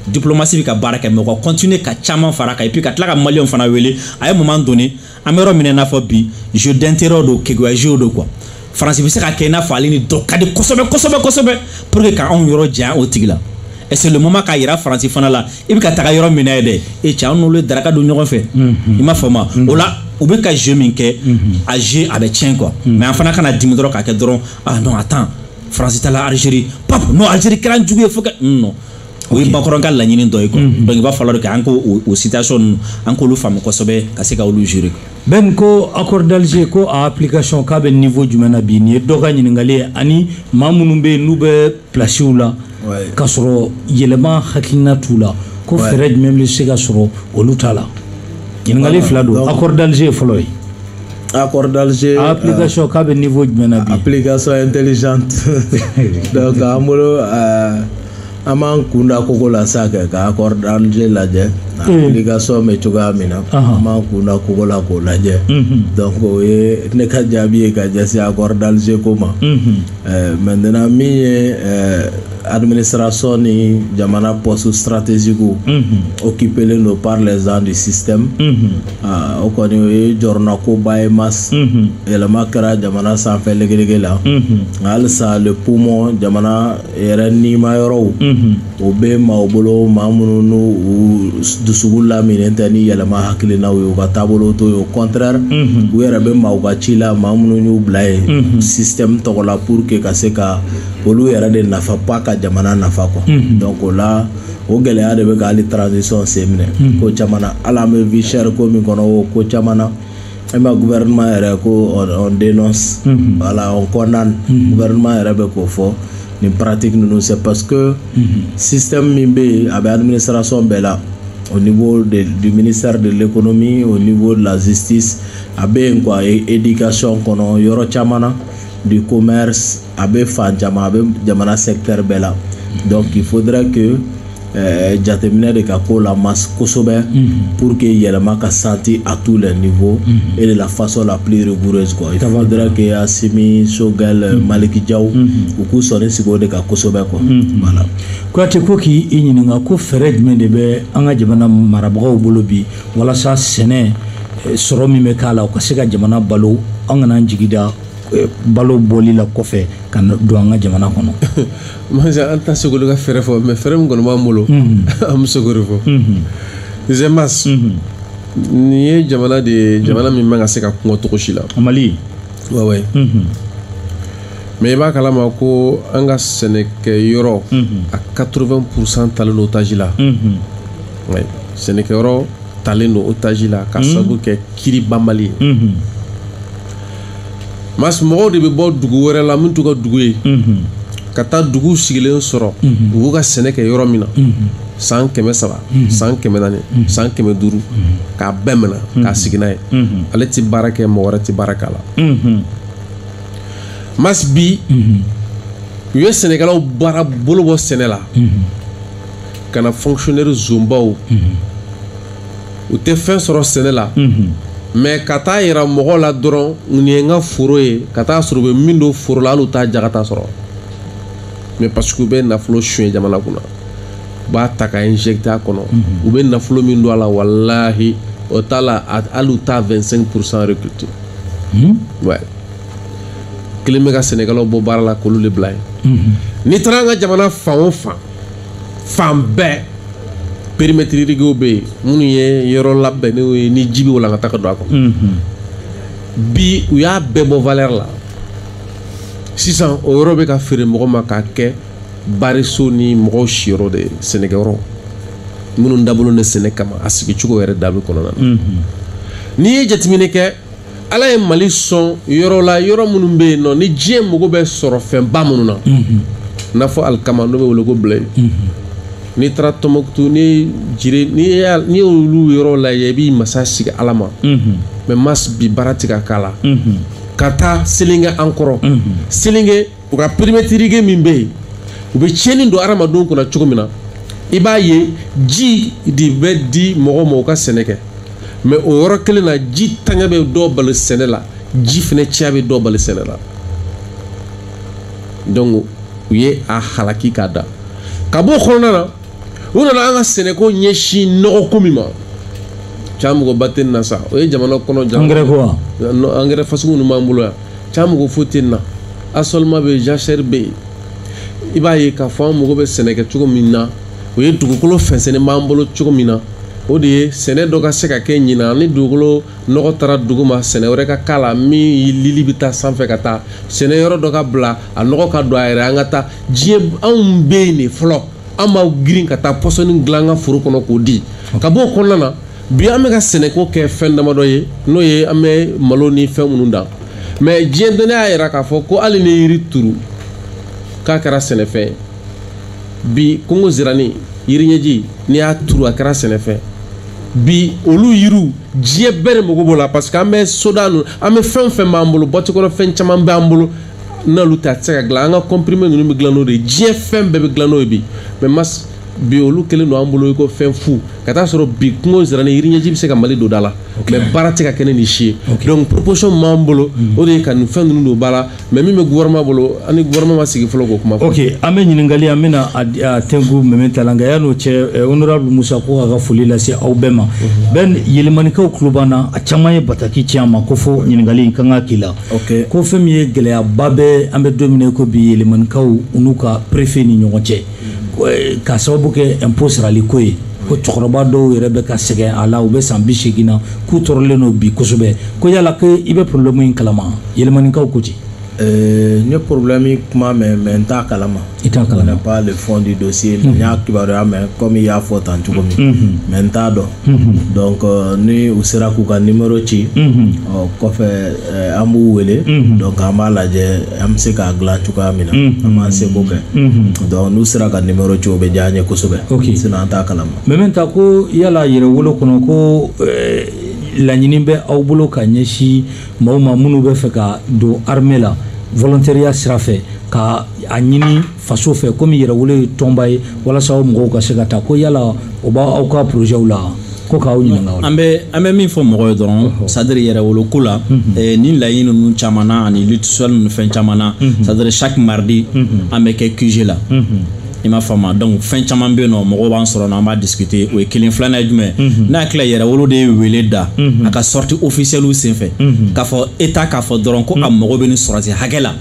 diplomasi bɛ ka baara kɛ mais u ka kɔntine ka caman fara a kan et puis ka tila ka maliyɛnw fana wele à un moment donné an bɛ yɔrɔ min i n'a fɔ bi jeu d'intérêt don keguya jeu don quoi faransi bɛ se ka kɛ i n'a fɔ ale ni dɔ ka di kosɛbɛ kosɛbɛ kosɛbɛ pour que ka anw yɔrɔ janya o tigi la et c'est le moment k'a yira faransi fana la i bɛ ka taga yɔrɔ min na yen dɛ e cɛ an n'olu ye daraka dun ɲɔgɔn fɛ i m'a faamu o la u bɛ ka jeu min kɛ a jeu a bɛ tiɲɛ quoi mais an fana kana dimi dɔrɔn k'a kɛ dɔrɔn ah non attends faransi taala alizeri pap non alizeri kɛra an jugu ye fo ka non o ye makɔrɔn ka laɲini dɔ ye quoi mhm. donc il va falloir que an k'o situation ninnu an k'olu faamu kosɛbɛ ka se ka olu gérer Ben ko accord d'Alger ko a application k'a bɛ niveau jumɛn na bi nin ye dɔ ka ɲininkali ye ani maa minnu bɛ yen n'u bɛ pilasiw la k'a sɔrɔ yɛlɛma hakilina t'u la ko fɛɛrɛ jumɛn bɛ se ka sɔrɔ olu ta la ɲininkali fila don accord d'Alger ye fɔlɔ ye A kɔrɔdalize a pkasi k'a bɛ ninfɔ jumɛn a pkasɔ in teli an bolo an b'an kunda ko ko la sa kɛ ka kɔrɔdalize lajɛ kasɔn bɛ cogoya min na an b'an kunda kogo la k'o lajɛ o ye ne ka jaabi ye ka jɛ a kɔrɔdalize ko ma mɛten min ye amini siranraso ni jamana pɔsi siratezku o k'iplen don pa zan de sisan Aa o kɔni o ye jɔrɔnanko ba ye mas yɛlɛma kɛra jamana sanfɛ legelege la nka halisa le poumon jamana yɛrɛ nima yɔrɔw o bɛ maaw bolo maa minnu u dusukun laminilen tɛ ni yɛlɛma hakilinaw ye u ka taabolo t'o ye au contraire u yɛrɛ bɛ maaw ka ci la maa minnu y'u bila yen système tɔgɔ la pour que ka se ka olu yɛrɛ de nafa pas ka jamana nafa quoi donc o la o gɛlɛya de bɛ ka hali transition sen minɛ hmm. ko caman na hali an bɛ vie chère ko min kɔnɔ o ko caman na an bɛ gouvernement yɛrɛ ko on dénonce hmm. voilà on condamne hmm. gouvernement yɛrɛ bɛ k'o fɔ nin pratique ninnu c'est parce que système min bɛ yen a bɛ administration bɛɛ la au niveau de, du ministère de l'économie au niveau de la justice a bɛ yen quoi éducation kɔnɔ yɔrɔ caman na du commerce a bɛ fan caman a bɛ jamana secteur bɛɛ la donc il faudrait que euh, jateminɛ de ka k'o la mas kosɛbɛ pour que yɛlɛma ka senti à tous les niveaux et de la façon la plus rigoureuse quoi il faudrait que Asimi Sogɛl euh, Maliki Jaw u k'u sɔnin sigi o de kan kosɛbɛ quoi voilà Kuyate ko k'i ɲininka ko fɛɛrɛ jumɛn de bɛ an ka jamana marabagaw bolo bi walasa sɛnɛ eh, sɔrɔ min bɛ k'a la u ka se ka jamana balo an kana an jigi da eh, balo bɔli la kɔfɛ ka don an ka jamana kɔnɔ mas an tɛ se k'olu ka fɛɛrɛ fɔ mais fɛɛrɛ min kɔni b'an bolo mhm. an bɛ se k'o de fɔ mhm. zemas mhm. nin ye jamana de ye jamana min man ka se ka kɔngɔ cogo si la Mali ouais mais i b'a kalama ko an ka sɛnɛkɛ yɔrɔ à 80 pourcent talen don otage la sɛnɛkɛyɔrɔ talen don otage la ka sabu kɛ kiri banbali ye mas mɔgɔw de bɛ bɔ dugu wɛrɛ la min t'u ka dugu ye ka taa dugu sigilen sɔrɔ u b'u ka sɛnɛ kɛ yɔrɔ min na san kɛmɛ saba san kɛmɛ naani san kɛmɛ duuru k'a bɛɛ minɛ k'a sigi n'a ye ale tɛ baara kɛ mɔgɔ wɛrɛ tɛ baara k'a la mas bi u ye sɛnɛkɛlaw baara bolo bɔ sɛnɛ la ka na fonctionnaire zonbaw u tɛ fɛn sɔrɔ sɛnɛ la mais ka taa yira mɔgɔ la dɔrɔn nin ye n ka foro ye ka taa sɔrɔ u bɛ min don foro la hali u t'a jagata sɔrɔ mais parce que u bɛ nafolo suɲɛ jamana kunna u b'a ta ka injecter a kɔnɔ u bɛ nafolo min don a la walahi o t'a la hali u t'a vingt-cinq pour cent récolter kelen bɛ ka sɛnɛkɛlaw bɔ baara la k'olu de bila yen n'i taara an ka jamana fan o fan fan bɛɛ périmètre irriguéw bɛ yen minnu ye yɔrɔ labɛnnenw ye ni ji bɛ walankata ka don a kɔnɔ bi u y'a bɛɛ bɔ valeur la sisan o yɔrɔ bɛ ka feere mɔgɔ ma k'a kɛ bariso ni mɔgɔw siyɔrɔ de ye sɛnɛkɛyɔrɔ minnu dabololen bɛ sɛnɛ kama a sigicogo yɛrɛ dabi kɔnɔna na n'i ye jateminɛ kɛ ala ye mali sɔn yɔrɔ la yɔrɔ minnu bɛ yen nɔ ni diɲɛ mago bɛ sɔrɔ fɛnba minnu na n'a fɔ alikama n'o bɛ wele ko blé n'i taara tɔnbukutu ni jire n'i y'olu yɔrɔ lajɛ i b'i masa sigi ala ma mais mas bi baara ti ka k'a la ka taa selinge an kɔrɔ selinge u ka périmètre irrigué min bɛ yen u bɛ tiɲɛni don adamadenw kunna cogo min na i b'a ye ji de bɛ di mɔgɔw ma u ka sɛnɛ kɛ mais o yɔrɔ kelen na ji ntanya bɛ dɔ bali sɛnɛ la ji fana caya bɛ dɔ bali sɛnɛ la donc u ye a halaki k'a da ka b'o kɔnɔna na u nana an ka sɛnɛko ɲɛsin nɔgɔko min ma cɛ magoba tɛ nin na sa o ye jamana kɔnɔ angɛrɛ ko wa angɛrɛ fasugu ninnu b'an bolo yan cɛ mago foyi tɛ nin na assolement bɛ jachère bɛ yen i b'a ye k'a fɔ an mago bɛ sɛnɛ kɛ cogo min na o ye dugukolo fɛnsɛnnen b'an bolo cogo min na o de ye sɛnɛ dɔ ka se ka kɛ ɲinan ni dugukolo nɔgɔ taara duguma sɛnɛ wɛrɛ ka k'a la min lili bɛ taa sanfɛ ka taa sɛnɛ yɔrɔ dɔ ka bila a nɔgɔ ka don a yɛrɛ an ka taa diɲɛ anw bɛ yen de fɔlɔ an b'an girin ka taa pɔsɔni dilan an ka foro kɔnɔ k'o di ka bɔ o kɔnɔna na bi an bɛ ka sɛnɛko kɛ fɛn damadɔ ye n'o ye an bɛ malo ni fɛn minnu dan mais diɲɛ dɔnniya y'a yira k'a fɔ ko hali ni yiri turu k'a kɛra sɛnɛfɛn ye bi kungo zira ni yiri ɲɛji n'i y'a turu a kɛra sɛnɛfɛn bi olu yiriw diɲɛ bɛɛ de mago b'o la parce que an bɛ soda ninnu an bɛ fɛn o fɛn b'an bolo bɔti kɔnɔ fɛn caman b'an bolo n'olu tɛ a tɛ se ka dilan an ka comprimé ninnu bɛ dilan n'o de ye diɲɛ fɛn bɛɛ bɛ dilan n'o ye bi mais mas bi olu kɛlen don an bolo i ko fɛn fu ka taa sɔrɔ bi kungo zira ni yiriɲɛji bɛ se ka mali don da la mais baara tɛ ka kɛ ni nin si ye donc proposition min b'an bolo mm. o de ye ka nin fɛn ninnu don ba la mais min bɛ gouvernement bolo an ni gouvernement ma sigi fɔlɔ k'o kuma fɔ ok an bɛ ɲininkali an bɛna a tɛnku mɛmɛ ta la nka yann'o cɛ eh, honorable musa ko k'a ka foli lase aw bɛɛ ma mhm. bon yelimanikaw tulo b'an na a caman ye bataki ci an ma ko fo ɲininkali in ka kan ka k'i la ko fɛn min ye gɛlɛyaba bɛ an bɛ don min na i ko bi yelimanikaw u n'u ka préfet ni ɲɔgɔn cɛ eh, ka sababu kɛ impôt sarali ko ye ko cɛkɔrɔba dɔw yɛrɛ bɛ ka sɛgɛn a la u bɛ san bi seegin na k'u tɔɔrɔlen don bi kosɛbɛ ko yala ko i bɛ problème in kalama Yelimanekaw ko ten eh, n ye problème kuma mɛn mais n t'a kalama i t'a kalama je connais pas le fond du dossier n y'a kibaruya mɛn comme i y'a fɔ tan cogo min mais n t'a dɔn donc euh, ni u sera k'u ka numéro ci o kɔfɛ Eh, an b'u wele mhm. donc an b'a lajɛ an bɛ se k'a dilan cogoya min na mhm. an b'an seko kɛ mhm. donc n'u sera ka numéro ci o bɛ diya an ye kosɛbɛ sinon an t'a kalama mais maintenant ko yala yɛrɛwolo kɔnɔ ko eh, laɲini bɛ aw bolo ka ɲɛsin maaw ma minnu bɛ fɛ ka don armée la volontariat sira fɛ ka a ɲini faso fɛ komi yɛrɛwolo ye tɔnba ye walasa aw mɔgɔw ka se ka taa ko yala o b'aw ka porozɛw la ko k'aw ɲininka an bɛ an bɛ min fɔ mɔgɔ ye dɔrɔn c'est à dire yɛrɛwolo ko la eh, ni laɲini ninnu caman na ani lutte sociale ninnu fɛn caman na c'est à dire chaque mardi an bɛ kɛ QG la i m'a faamu donc fɛn caman bɛ yen nɔ mɔgɔw b'an sɔrɔ n'an b'a discuter o ye kelen filanan ye jumɛn n'a tila yɛrɛwolo de ye wele da a ka sortie officielle senfɛ k'a fɔ état k'a fɔ dɔrɔn ko a mago bɛ nin sɔrɔdasi hakɛ la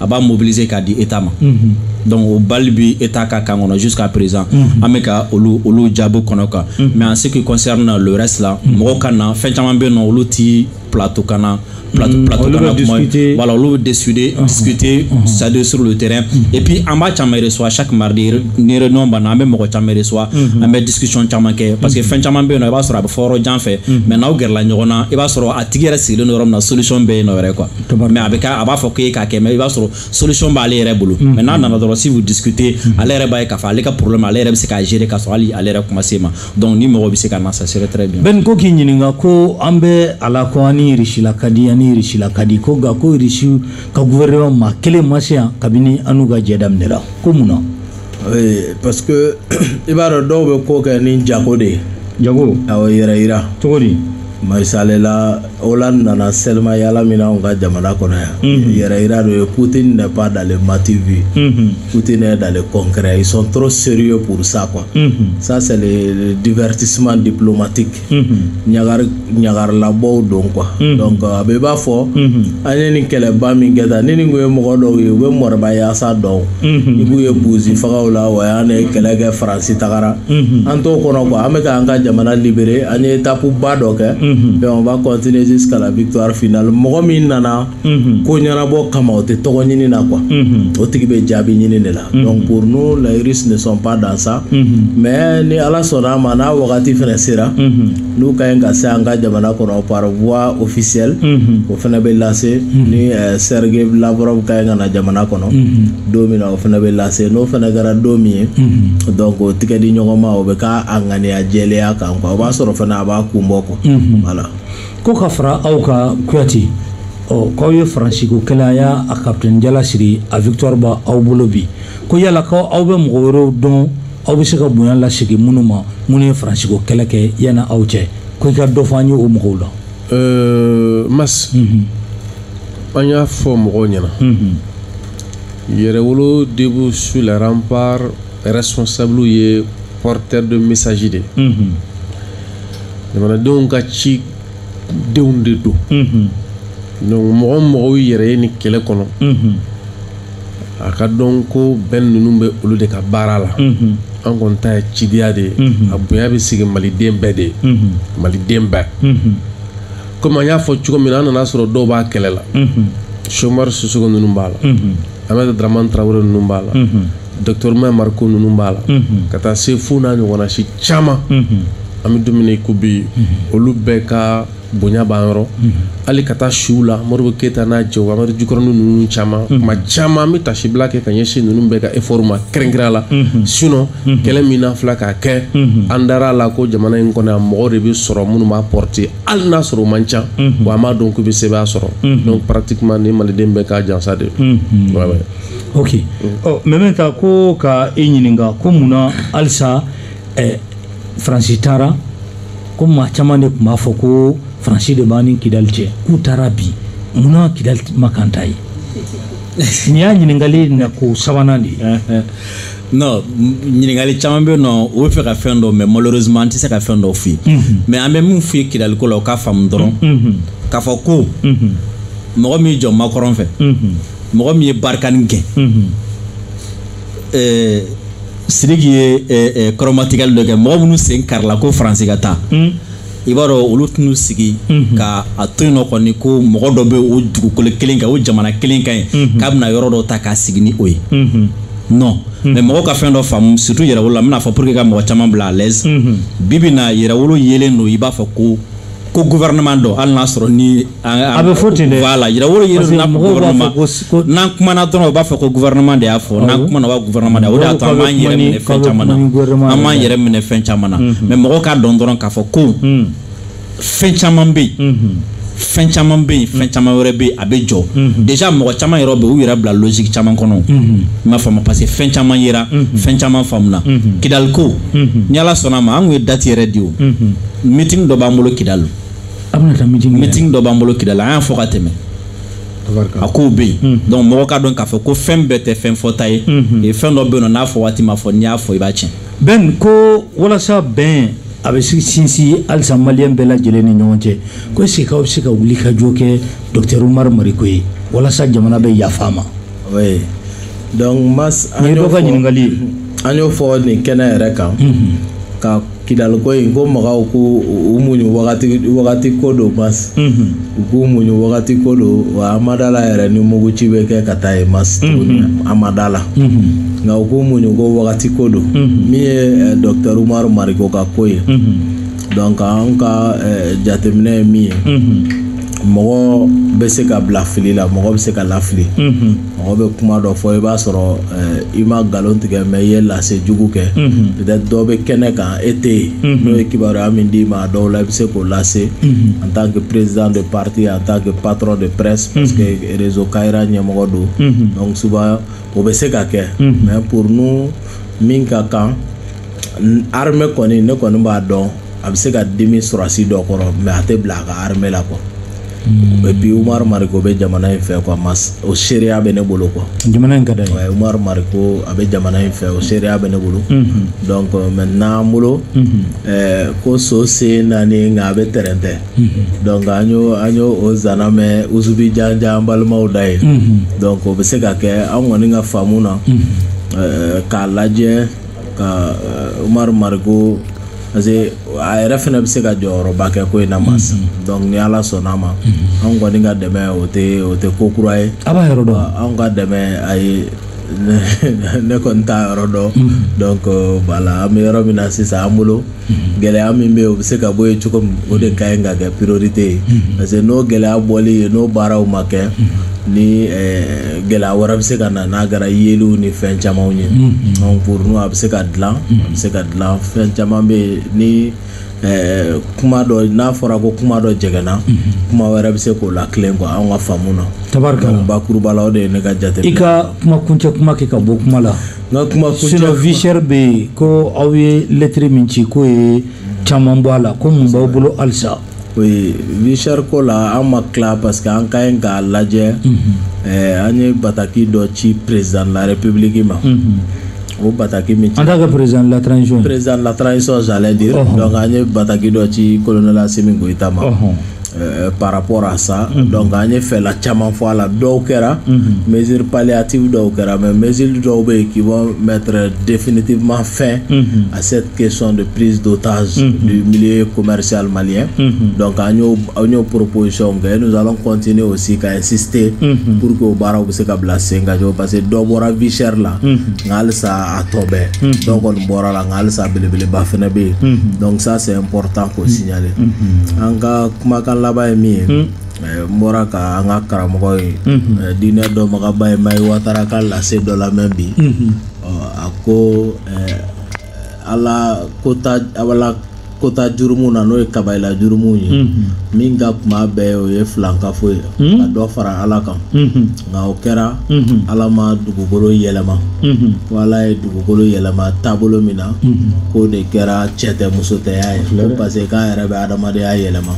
a b'a mobiliser k'a di état ma mhm. donc o balle bi état ka camp kɔnɔ jusqu'à présent mhm. an bɛ ka olu olu jaabi kɔnɔ quoi mhm. mais en ce qui concerne le reste la mɔgɔw ka na fɛn caman bɛ yen nɔ olu ti plateau kan na plateau mm, plateau kan na kuma voilà olu bɛ discuter uh-huh. discuter uh-huh. c'est à dire sur le terrain mm-hmm. et puis an b'a caman reçoit chaque mardi ni réunion banna an bɛ mɔgɔ caman reçoit mm-hmm. an bɛ discussion caman kɛ parce que mm-hmm. fɛn caman bɛ yen nɔ i b'a sɔrɔ a bɛ fɔ yɔrɔ jan fɛ mais n'aw gɛrɛla ɲɔgɔn na i b'a sɔrɔ a tigi yɛrɛ sigilen don yɔrɔ min na solution bɛ yen nɔ yɛrɛ quoi mais a bɛ kɛ a b'a fɔ k'e k'a kɛ mais i b'a sɔrɔ solution b'ale yɛrɛ bolo mm-hmm. mais n'a nana dɔrɔn si vous discutez mm-hmm. ale yɛrɛ b'a ye k'a fɔ ale ka problème ale yɛrɛ bɛ se k'a gérer k'a sɔrɔ hali ale yɛrɛ kuma se ma donc ni mɔgɔ bɛ se ka na ça serait très bien Ben ko k'i ɲininka ko an bɛ a la ko an ni Irisi la ka di an ni Irisi la ka di ko nka ko Irisi ka gouvernement maa kelen ma se yan kabini an n'u ka jɛ daminɛra ko mun na parce que i b'a dɔn dɔw bɛ ko kɛ ni jago de ye jago awɔ yɛrɛ yira cogo di misali la Hollande nana sɛlima yaala min na anw ka jamana kɔnɔ yan mhm. yɛrɛ yira dɔ ye Poutine n'est pas dans le m'as-tu-vu mhm. Poutine est dans le concret ils sont trop sérieux pour ça quoi mhm. ça c'est le divertissement diplomatique ɲagari ɲagarilabɔw don quoi donc a bɛ i b'a fɔ an ye nin kɛlɛba min kɛ tan ni nin kun ye mɔgɔ dɔw ye u bɛ moribayasa dɔn i b'u ye buzi fagaw la ouais an ye kɛlɛ kɛ faransi tagara an t'o kɔnɔ quoi an bɛ k'an ka jamana libérer an ye étape ba dɔ kɛ donc on va continuer jusqu'à la victoire finale mɔgɔ min nana ko ɲɛnabɔ kama o tɛ tɔgɔ ɲini na quoi o tigi bɛ jaabi ɲini de la donc pour nous les Russes ne sont pas dans ça mais ni ala sɔnna a ma n'a wagati fana sera n'u ka ɲi ka se an ka jamana kɔnɔ par voie officielle o fana bɛ lase ni Sergei Lavrov ka ɲi ka na jamana kɔnɔ don min na o fana bɛ lase n'o fana kɛra don min ye donc o tigɛ di ɲɔgɔn ma o bɛ k'a ŋaniya jɛlenya kan quoi o b'a sɔrɔ fana a b'a kun bɔ quoi voilà. ko ka fara aw ka kuyate ɔ k'aw ye faransiko kɛlɛ a y'a a kapitɛni jala siri a victoire b'aw bolo bi ko yala ko aw bɛ mɔgɔ wɛrɛw dɔn aw bɛ se ka bonya lasegin minnu ma minnu ye faransiko kɛlɛ kɛ yanni aw cɛ ko i ka dɔ fɔ an ye o mɔgɔw la. Euh, mas mhm. an y'a fɔ mɔgɔw ɲɛna mhm. yɛrɛwolo debout sur les remparts responsablew ye porteur de message de mhm. jamanadenw ka cidenw de don donc mɔgɔ mɔgɔw yɛrɛ ye nin kɛlɛ kɔnɔ a ka dɔn ko bɛn ninnu bɛ olu de ka baara la an kɔni ta ye cidiya de ye a bonya bɛ sigi maliden bɛɛ de ye maliden bɛɛ komi an y'a fɔ cogo min na an nana sɔrɔ dɔw b'a kɛlɛ la Cheick Oumar Sissoko ninnu b'a la aminata daraman tarawele ninnu b'a la dɔkitɔri umaru mariko ninnu b'a la ka taa se fo n'a ɲɔgɔnna si caman an bɛ don min i ko bi olu bɛɛ ka bonya b'an yɔrɔ hali ka taa siw la modibo keyita n'a cɛw amadu jikɔrɔnin ninnu caman kuma caman an bɛ tasibila kɛ ka ɲɛsin ninnu bɛɛ ka efɔri ma kɛrɛnkɛrɛnya la sinon kɛlɛ min an filɛ k'a kɛ an dara a la ko jamana in kɔnɔ yan mɔgɔ de bɛ sɔrɔ minnu b'a porter hali n'a sɔrɔ o man ca wa an b'a dɔn k'u bɛ sɛbɛn sɔrɔ donc pratiquement nin maliden bɛɛ ka jansa de don Ouais, ouais. ok ɔ mais maintenant ko ka e ɲininka ko mun na halisa ɛ faransi taara komi maa caman de tun b'a fɔ ko faransi de b'an ni kidali cɛ k'u taara bi mun na kidali ma kan ta ye nin y'a ɲininkali na ko sabanan de ye non ɲininkali caman bɛ yen nɔ o bɛ fɛ ka fɛn dɔn mais malheureusement an tɛ se ka fɛn dɔ f'i ye mhm. mais an bɛ min f'i ye kidaliko la o k'a faamu dɔrɔn mhm. Mhm. k'a fɔ ko mɔgɔ min jɔ makɔrɔn fɛ mɔgɔ min ye barikani gɛn eh, siriki ye eh, eh, kɔrɔmatigɛli dɔ kɛ mɔgɔ minnu sen karila ko faransi ka taa i b'a dɔn olu tɛn'u sigi mhm. ka a to yen nɔ kɔni ko mɔgɔ dɔ bɛ o dugukolo kelen kan o jamana kelen kan yen mhm. k'a bɛna yɔrɔ dɔ ta k'a sigi ni o ye mhm. non mais mɔgɔw ka fɛn dɔ faamu surtout yɛrɛwolo la n bɛn'a fɔ pour que ka mɔgɔ caman bila à l'aise bi bi na yɛrɛwolo yelen don i b'a fɔ ko ko gouvernement dɔ hali n'a sɔrɔ ni a bɛ fɔ ten dɛ voilà yɛrɛwolo yiri na gouvernement n'an kumana dɔrɔn u b'a fɔ ko gouvernement de y'a fɔ n'an kumana wa gouvernement de o de y'a to an b'an yɛrɛ minɛ fɛn caman na an b'an yɛrɛ minɛ fɛn caman na mais mɔgɔw k'a dɔn dɔrɔn k'a fɔ ko fɛn caman bɛ yen fɛn caman bɛ yen fɛn caman wɛrɛ bɛ yen a bɛ jɔ déjà mɔgɔ caman yɛrɛ bɛ u yɛrɛ bila logique caman kɔnɔ i m'a faamu parce que fɛn caman yera fɛn caman faamuna kidaliko ni ala sɔnna a ma an tun ye date yɛrɛ di o meeting dɔ b'an bolo kidali a bɛna taa meeting meeting dɔ b'an bolo kidali an y'a fɔ ka tɛmɛ a kow bɛ yen hmm. donc mɔgɔ k'a dɔn k'a fɔ ko fɛn bɛɛ tɛ fɛn fɔta ye hmm. fɛn dɔ bɛ yen nɔ n'a fɔ waati ma fɔ n'i y'a fɔ i b'a tiɲɛ ben ko walasa bɛn a bɛ sinsin halisa maliyɛn bɛɛ lajɛlen ni ɲɔgɔn cɛ ko est-ce que aw bɛ se ka wuli ka jɔ kɛ docteur umaru mariko ye walasa jamana bɛ yafa a ma oui donc mas an y'o fɔ ɲininkali ye an y'o fɔ nin kɛnɛ yɛrɛ kan mhm. ka kidaliko in ko mɔgɔw k'u muɲu wagati ko don mas mhm. u k'u muɲu wagati ko don wa an ma da la yɛrɛ ni muguci bɛ kɛ ka taa yen mas tuguni mhm. an ma da la nka u k'u muɲu ko wagati ko don min ye eh, docteur umaru mariko ka ko ye donc an ka eh, jateminɛ ye min ye mɔgɔ bɛ se ka bila fili la mɔgɔ bɛ se ka lafili mɔgɔ bɛ kuma dɔ fɔ i b'a sɔrɔ eh, i ma nkalon tigɛ mais i ye lase jugu kɛ peut-être dɔ bɛ kɛnɛ kan e tɛ yen n'o ye kibaruya min d'i ma a dɔw la i bɛ se k'o lase en tant que président de parti en tant que patron de presse parce que réseau Kayira ɲɛmɔgɔ don donc souvent o bɛ se ka kɛ mais pour nous min ka kan armée kɔni ne kɔni b'a dɔn a bɛ se ka dimi sɔrɔdasi dɔ kɔrɔ mais a tɛ bila a ka armée la quoi hmm. et puis umaru mariko bɛ jamana in fɛ quoi o seereya bɛ ne bolo quoi jamana in ka d'a ye umaru mariko a bɛ jamana in fɛ o seereya bɛ ne bolo hmm. donc maintenant an bolo hmm. eh, ko so sen naani nka a bɛ tɛrɛntɛ donc an y'o an y'o o zana mɛn usubi janjan balimaw da ye donc o bɛ se ka kɛ an kɔni ka faamu na eh, k'a lajɛ ka uh, umaru mariko parce que a yɛrɛ fɛnɛ bɛ se ka jɔyɔrɔba kɛ ko in na mas donc ni ala sɔnna a ma anw kɔni ka dɛmɛ o tɛ o tɛ ko kura ye a b'a yɔrɔ dɔn wa? anw ka dɛmɛ ayi ne kɔni t'a yɔrɔ dɔn donc voilà an bɛ yɔrɔ min na sisan an bolo gɛlɛya min bɛ yen o bɛ se ka bɔ yen cogo min o de ka ɲi ka kɛ priorité ye parce que n'o gɛlɛya bɔli ye n'o baaraw ma kɛ ni eh, gɛlɛya wɛrɛ bɛ se ka na n'a kɛra yeliw ni fɛn camanw ye donc pour nous a bɛ se ka dilan a bɛ se ka dilan fɛn caman bɛ yen ni eh, kuma dɔ n'a fɔra ko kuma dɔ jɛgɛnna kuma wɛrɛ bɛ se k'o latilen quoi anw ka faamu na tabarikala donc bakuruba la o de ye ne ka jate i ka kuma kuncɛ kuma kɛ ka bɔ kuma la n ka kuma kuncɛ sinon vie chère bɛ yen ko aw ye lettre min ci k'o ye caman bɔ a la ko mun b'aw bolo halisa oui vie chère ko la an ma tila parce que an ka ɲi k'a lajɛ ɛɛ an ye bataki dɔ ci président de la république ma o bataki min ci en tant que président de la transition j'allais dire donc an ye bataki dɔ ci colonel Assimi Goïta ma ɔhɔn Euh, par rapport à ça mm -hmm. donc an ye fɛla caman fɔ a la dɔw kɛra mm -hmm. mesure palliative dɔw kɛra mais mesure dɔw bɛ yen qui vont mettre définitivement fin mm -hmm. à cette question de prise d'otage mm -hmm. du milieu commercial malien mm -hmm. donc an y'o an y'o proposition kɛ nous allons continuer aussi ka insister mm -hmm. pour que o baaraw bɛ se ka bila sen kan cogo parce que dɔ bɔra vie chère la mm -hmm. nka halisa a tɔ bɛɛ mm -hmm. dɔw kɔni bɔra la nka halisa belebeleba fana bɛ yen mm -hmm. donc ça c'est important k'o si gnaler. an ka kumakan laban ye min ye eh, n bɔra ka an ka karamɔgɔ ye eh, diinɛ dɔnbagaba ye mayi watara ka lase dɔ lamɛn bi Ɔ, a ko eh, ala kota ala kota jurumu na n'o ye kabayila jurumu ye min ka kunba a bɛɛ o ye filankafo ye ka dɔ fara ala kan nka o kɛra ala ma dugukolo yɛlɛma ko ala ye dugukolo yɛlɛma taabolo min na k'o de kɛra cɛ tɛ muso tɛya ye parce que k'a yɛrɛ bɛ adamadenya yɛlɛma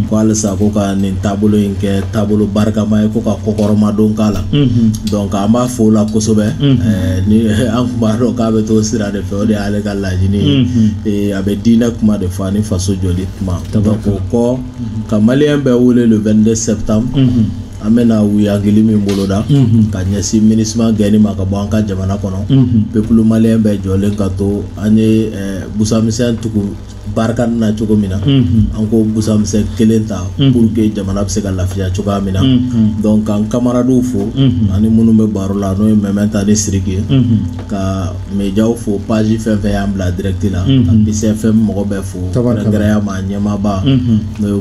ko halisa ko ka nin taabolo in kɛ taabolo barikama ye ko ka kɔkɔrɔmadon k'a la donc an b'a fo o la kosɛbɛ ni an kun b'a dɔn k'a bɛ t'o sira de fɛ o de y'ale ka laɲini ye a bɛ diinɛ kuma de fɔ ani faso jɔli kuma donc o kɔ ka malien bɛɛ wele le 22 septembre an bɛna wuyangili min boloda ka ɲɛsin MINUSMA gɛnni ma ka bɔ an ka jamana kɔnɔ peuple malien bɛɛ jɔlen ka to an ye busamisɛn tugu Barkhane na cogo min na an k'o busamisɛn kelen ta pour que jamana bɛ se ka lafiya cogoya min na donc k'an kamaradenw fo ani minnu bɛ baro la n'o ye mɛmɛta ni siriki ye ka médiaw fo page fɛn fɛn y'an bila direct la ka BCFM mɔgɔ bɛɛ fo kɛrɛnkɛrɛnya ma ɲɛmaaba n'o ye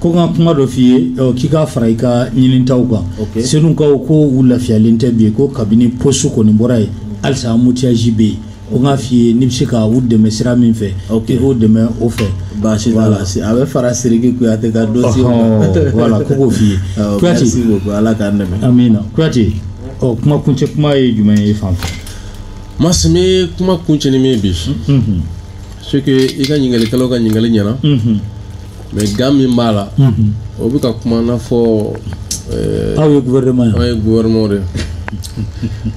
ko n ka kuma dɔ f'i ye k'i k'a fara i ka ɲinitaw kan senukaw ko u lafiyalen tɛ bi ko kabini poste kɔni bɔra ye halisa embouteillage bɛ yen ko n k'a f'i ye n'i bɛ se ka u dɛmɛ sira min fɛ i k'u dɛmɛ o fɛ baasi t'a la a bɛ fara siriki kuyate ka dossier voilà ko k'o f'i ye kuyate ala k'an dɛmɛ amina kuyate ɔ kuma kuncɛ kuma ye jumɛn ye fan fɛ merci n bɛ kuma kuncɛ ni min ye c'est que i ka ɲininkalikɛlaw ka ɲininkali ɲɛna mais gan min b'a la o bɛ ka kuma n'a fɔ aw ye gouvernement ye aw ye gouvernement de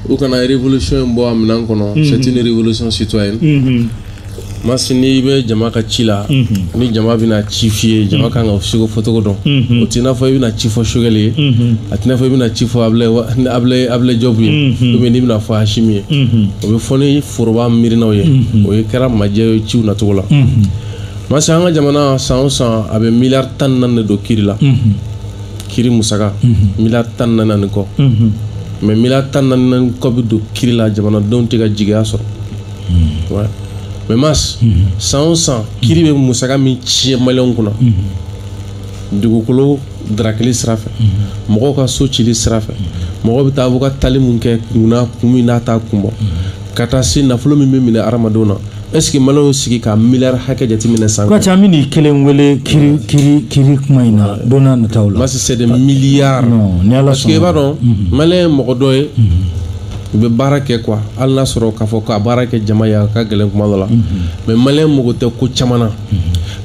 u kana révolution in bɔ a minɛn kɔnɔ c'est une révolution citoyenne masi n'i bɛ jama ka ci la ni jama bɛna ci f'i ye jama kan ka ci ko fɔcogo dɔn o t'i n'a fɔ i bɛna ci fɔ sogɛli ye a t'i n'a fɔ i bɛna ci fɔ abulɛ jɔbu ye ou bien n'i bɛna fɔ Asimi ye o bɛ fɔ ni foroba miirinaw ye o ye kɛra majɛ ye ciw nacogo la masi an ka jamana san o san a bɛ miliyari tan ni naani de don kiri la mhm. kiri musaka mhm. miliyari tan ni naani ni kɔ mhm. mais miliyari tan ni naani ni kɔ bɛ don kiri la jamanadenw tɛ ka jigiya sɔrɔ mais masi san o san kiri bɛ musaka min tiɲɛ maliyɛnw kunna dugukolo darakili sira fɛ mɔgɔw ka so cili sira fɛ mɔgɔw bɛ taa bɔ ka taali min kɛ kunna kun min na a t'a kun bɔ ka taa se nafolo min bɛ minɛ hadamadenw na est-ce que maliyɛnw sigi ka miliyari hakɛ jateminɛ san kɔnɔ. an bɛn'i kelen wele kiri kuma in na don n'a nataw la. masi c'est des milliards. non ni ala sɔnna parce que i b'a dɔn mhm. maliyɛn ye mɔgɔ dɔ ye. Mhm. u bɛ baara kɛ quoi hali n'a sɔrɔ k'a fɔ ka baara kɛ jama ye a ka gɛlɛn kuma dɔ la mhm. mais maliyɛn mago tɛ ko caman na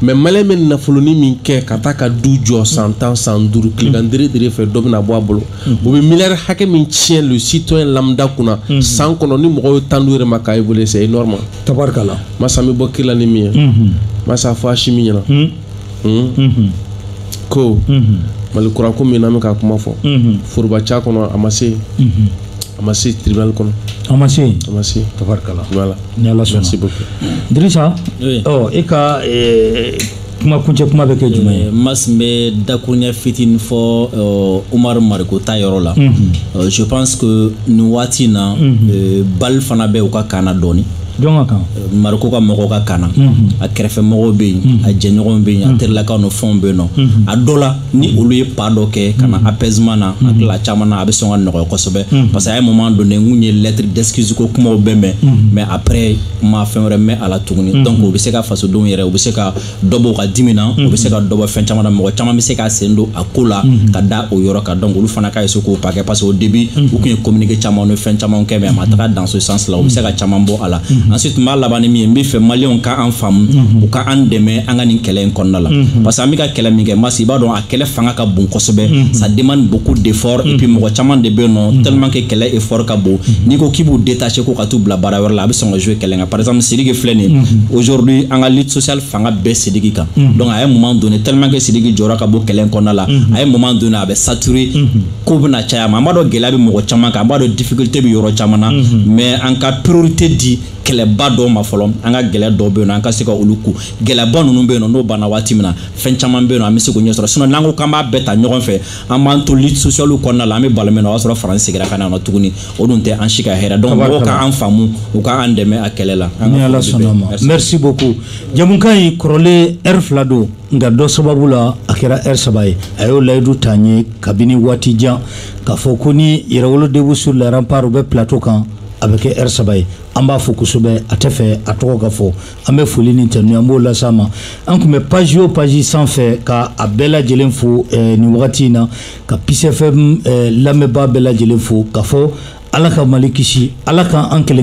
mais maliyɛn bɛ nafoloni min kɛ ka taa ka du jɔ san tan san duuru tilegan dere dere fɛ dɔ bɛna bɔ a bolo. o bɛ miliyari hakɛ min tiɲɛ le citoyen lambda kunna san kɔnɔ ni mɔgɔw ye temps d'u yɛrɛ ma k'a évaluer c'est énorme tabarikala masi n bɛ bɔ kiri la ni min ye masi a fɔ Asimi ɲɛna ko mali kura ko min na an bɛ ka kuma fɔ foroba ca kɔnɔ a ma se a ma se tribunal kɔnɔ a ma se a ma se tabarikala voilà ni ala sɔnna merci beaucoup Dirisa ɔ e ka kuma kuncɛ kuma bɛ kɛ jumɛn ye masi n bɛ dakuruɲɛ fitinin fɔ umaru mariko ta yɔrɔ la je pense que nin waati in na balle fana bɛ u ka camp na dɔɔni jɔn ka camp mariko ka mɔgɔw ka camp na a kɛrɛfɛ mɔgɔw bɛ yen a jɛɲɔgɔnw bɛ yen a terilakaw ni fɛnw bɛ yen nɔ a dɔ la ni olu ye pas dɔ kɛ ka na apaisement na a tila caman na a bɛ sɔn ka nɔgɔya kosɛbɛ parce que à un moment donné n kun ye lettre d'excuse ko kumaw bɛɛ mɛn mais après n ma fɛn wɛrɛ mɛn a la tuguni mm-hmm. donc o bɛ se ka fasodenw yɛrɛ u bɛ se ka dɔ bɔ u ka dimi na u bɛ se ka mm-hmm. dɔ bɔ fɛn caman na mɔgɔ caman bɛ se ka sen don a ko la mm-hmm. ka da o yɔrɔ kan donc olu fana ka essayer k'o pas kɛ parce que au début u tun ye communiqué caman ni fɛn caman kɛ mais a ma taga dans ce sens là u bɛ se ka caman bɔ a la ensuite n b'a laban ni min ye n b'a fɛ maliyɛnw ka an faamu u ka an dɛmɛ an ka nin kɛlɛ in kɔnɔna la parce que an bɛ ka kɛlɛ min kɛ masi i b'a dɔn a kɛlɛ fanga ka bon kosɛbɛ mhm. ça demande beaucoup d'effort et puis mhm. mɔgɔ caman de bɛ nɔ mhm. tellement que kɛlɛ effort ka bon n'i ko k'i b'u détacher ko ka t'u bila baara wɛrɛ la a bɛ sɔn ka jouer kɛlɛ kan par exemple Sidiki filɛ nin aujourd'hui an ka lutte sociale fanga bɛ Sidiki kan donc à un moment donné tellement que Sidiki jɔyɔrɔ ka bon kɛlɛ kɔnɔna la à un moment donné a bɛ saturer ko bɛna caya a ma an b'a dɔn gɛlɛya bɛ mɔgɔ caman kan an b'a dɔn difficulté bɛ yɔrɔ caman na mais an ka priorité di kɛlɛba dɔw ma fɔlɔ an ka kɛlɛ dɔw bɛ yen an ka se ka olu ku kɛlɛba ninnu bɛ yen n'o banna waati min na fɛn caman bɛ yen an bɛ se k'o ɲɛ sɔrɔ sinon n'an ko k'an b'a bɛɛ ta ɲɔgɔn fɛ an b'an to lutte socialew kɔnɔna la an bɛ balo min na o y'a sɔrɔ faransi segira ka na nɔ tuguni o dun tɛ an si ka hɛrɛ donc mɔgɔw ka an faamu u ka an dɛmɛ a kɛlɛ la ni ala sɔnn'a ma merci beaucoup jamukan in kɔrɔlen heure fila don nka dɔ sababu la a kɛra heure saba ye a y'o layidu ta n ye kabini waati jan k'a fɔ ko ni yɛrɛwolo debout sur les remparts u bɛ plateau kan a bɛ kɛ heure saba ye an b'a fɔ kosɛbɛ a tɛ fɛ a tɔgɔ ka fɔ an bɛ foli ni tanu an b'o las'a ma an tun bɛ page o page sanfɛ ka a bɛɛ lajɛlen fo eh, nin wagati in na ka Peace FM lamɛnbaa bɛɛ lajɛlen fo k'a fɔ ala ka mali kisi ala ka an kelen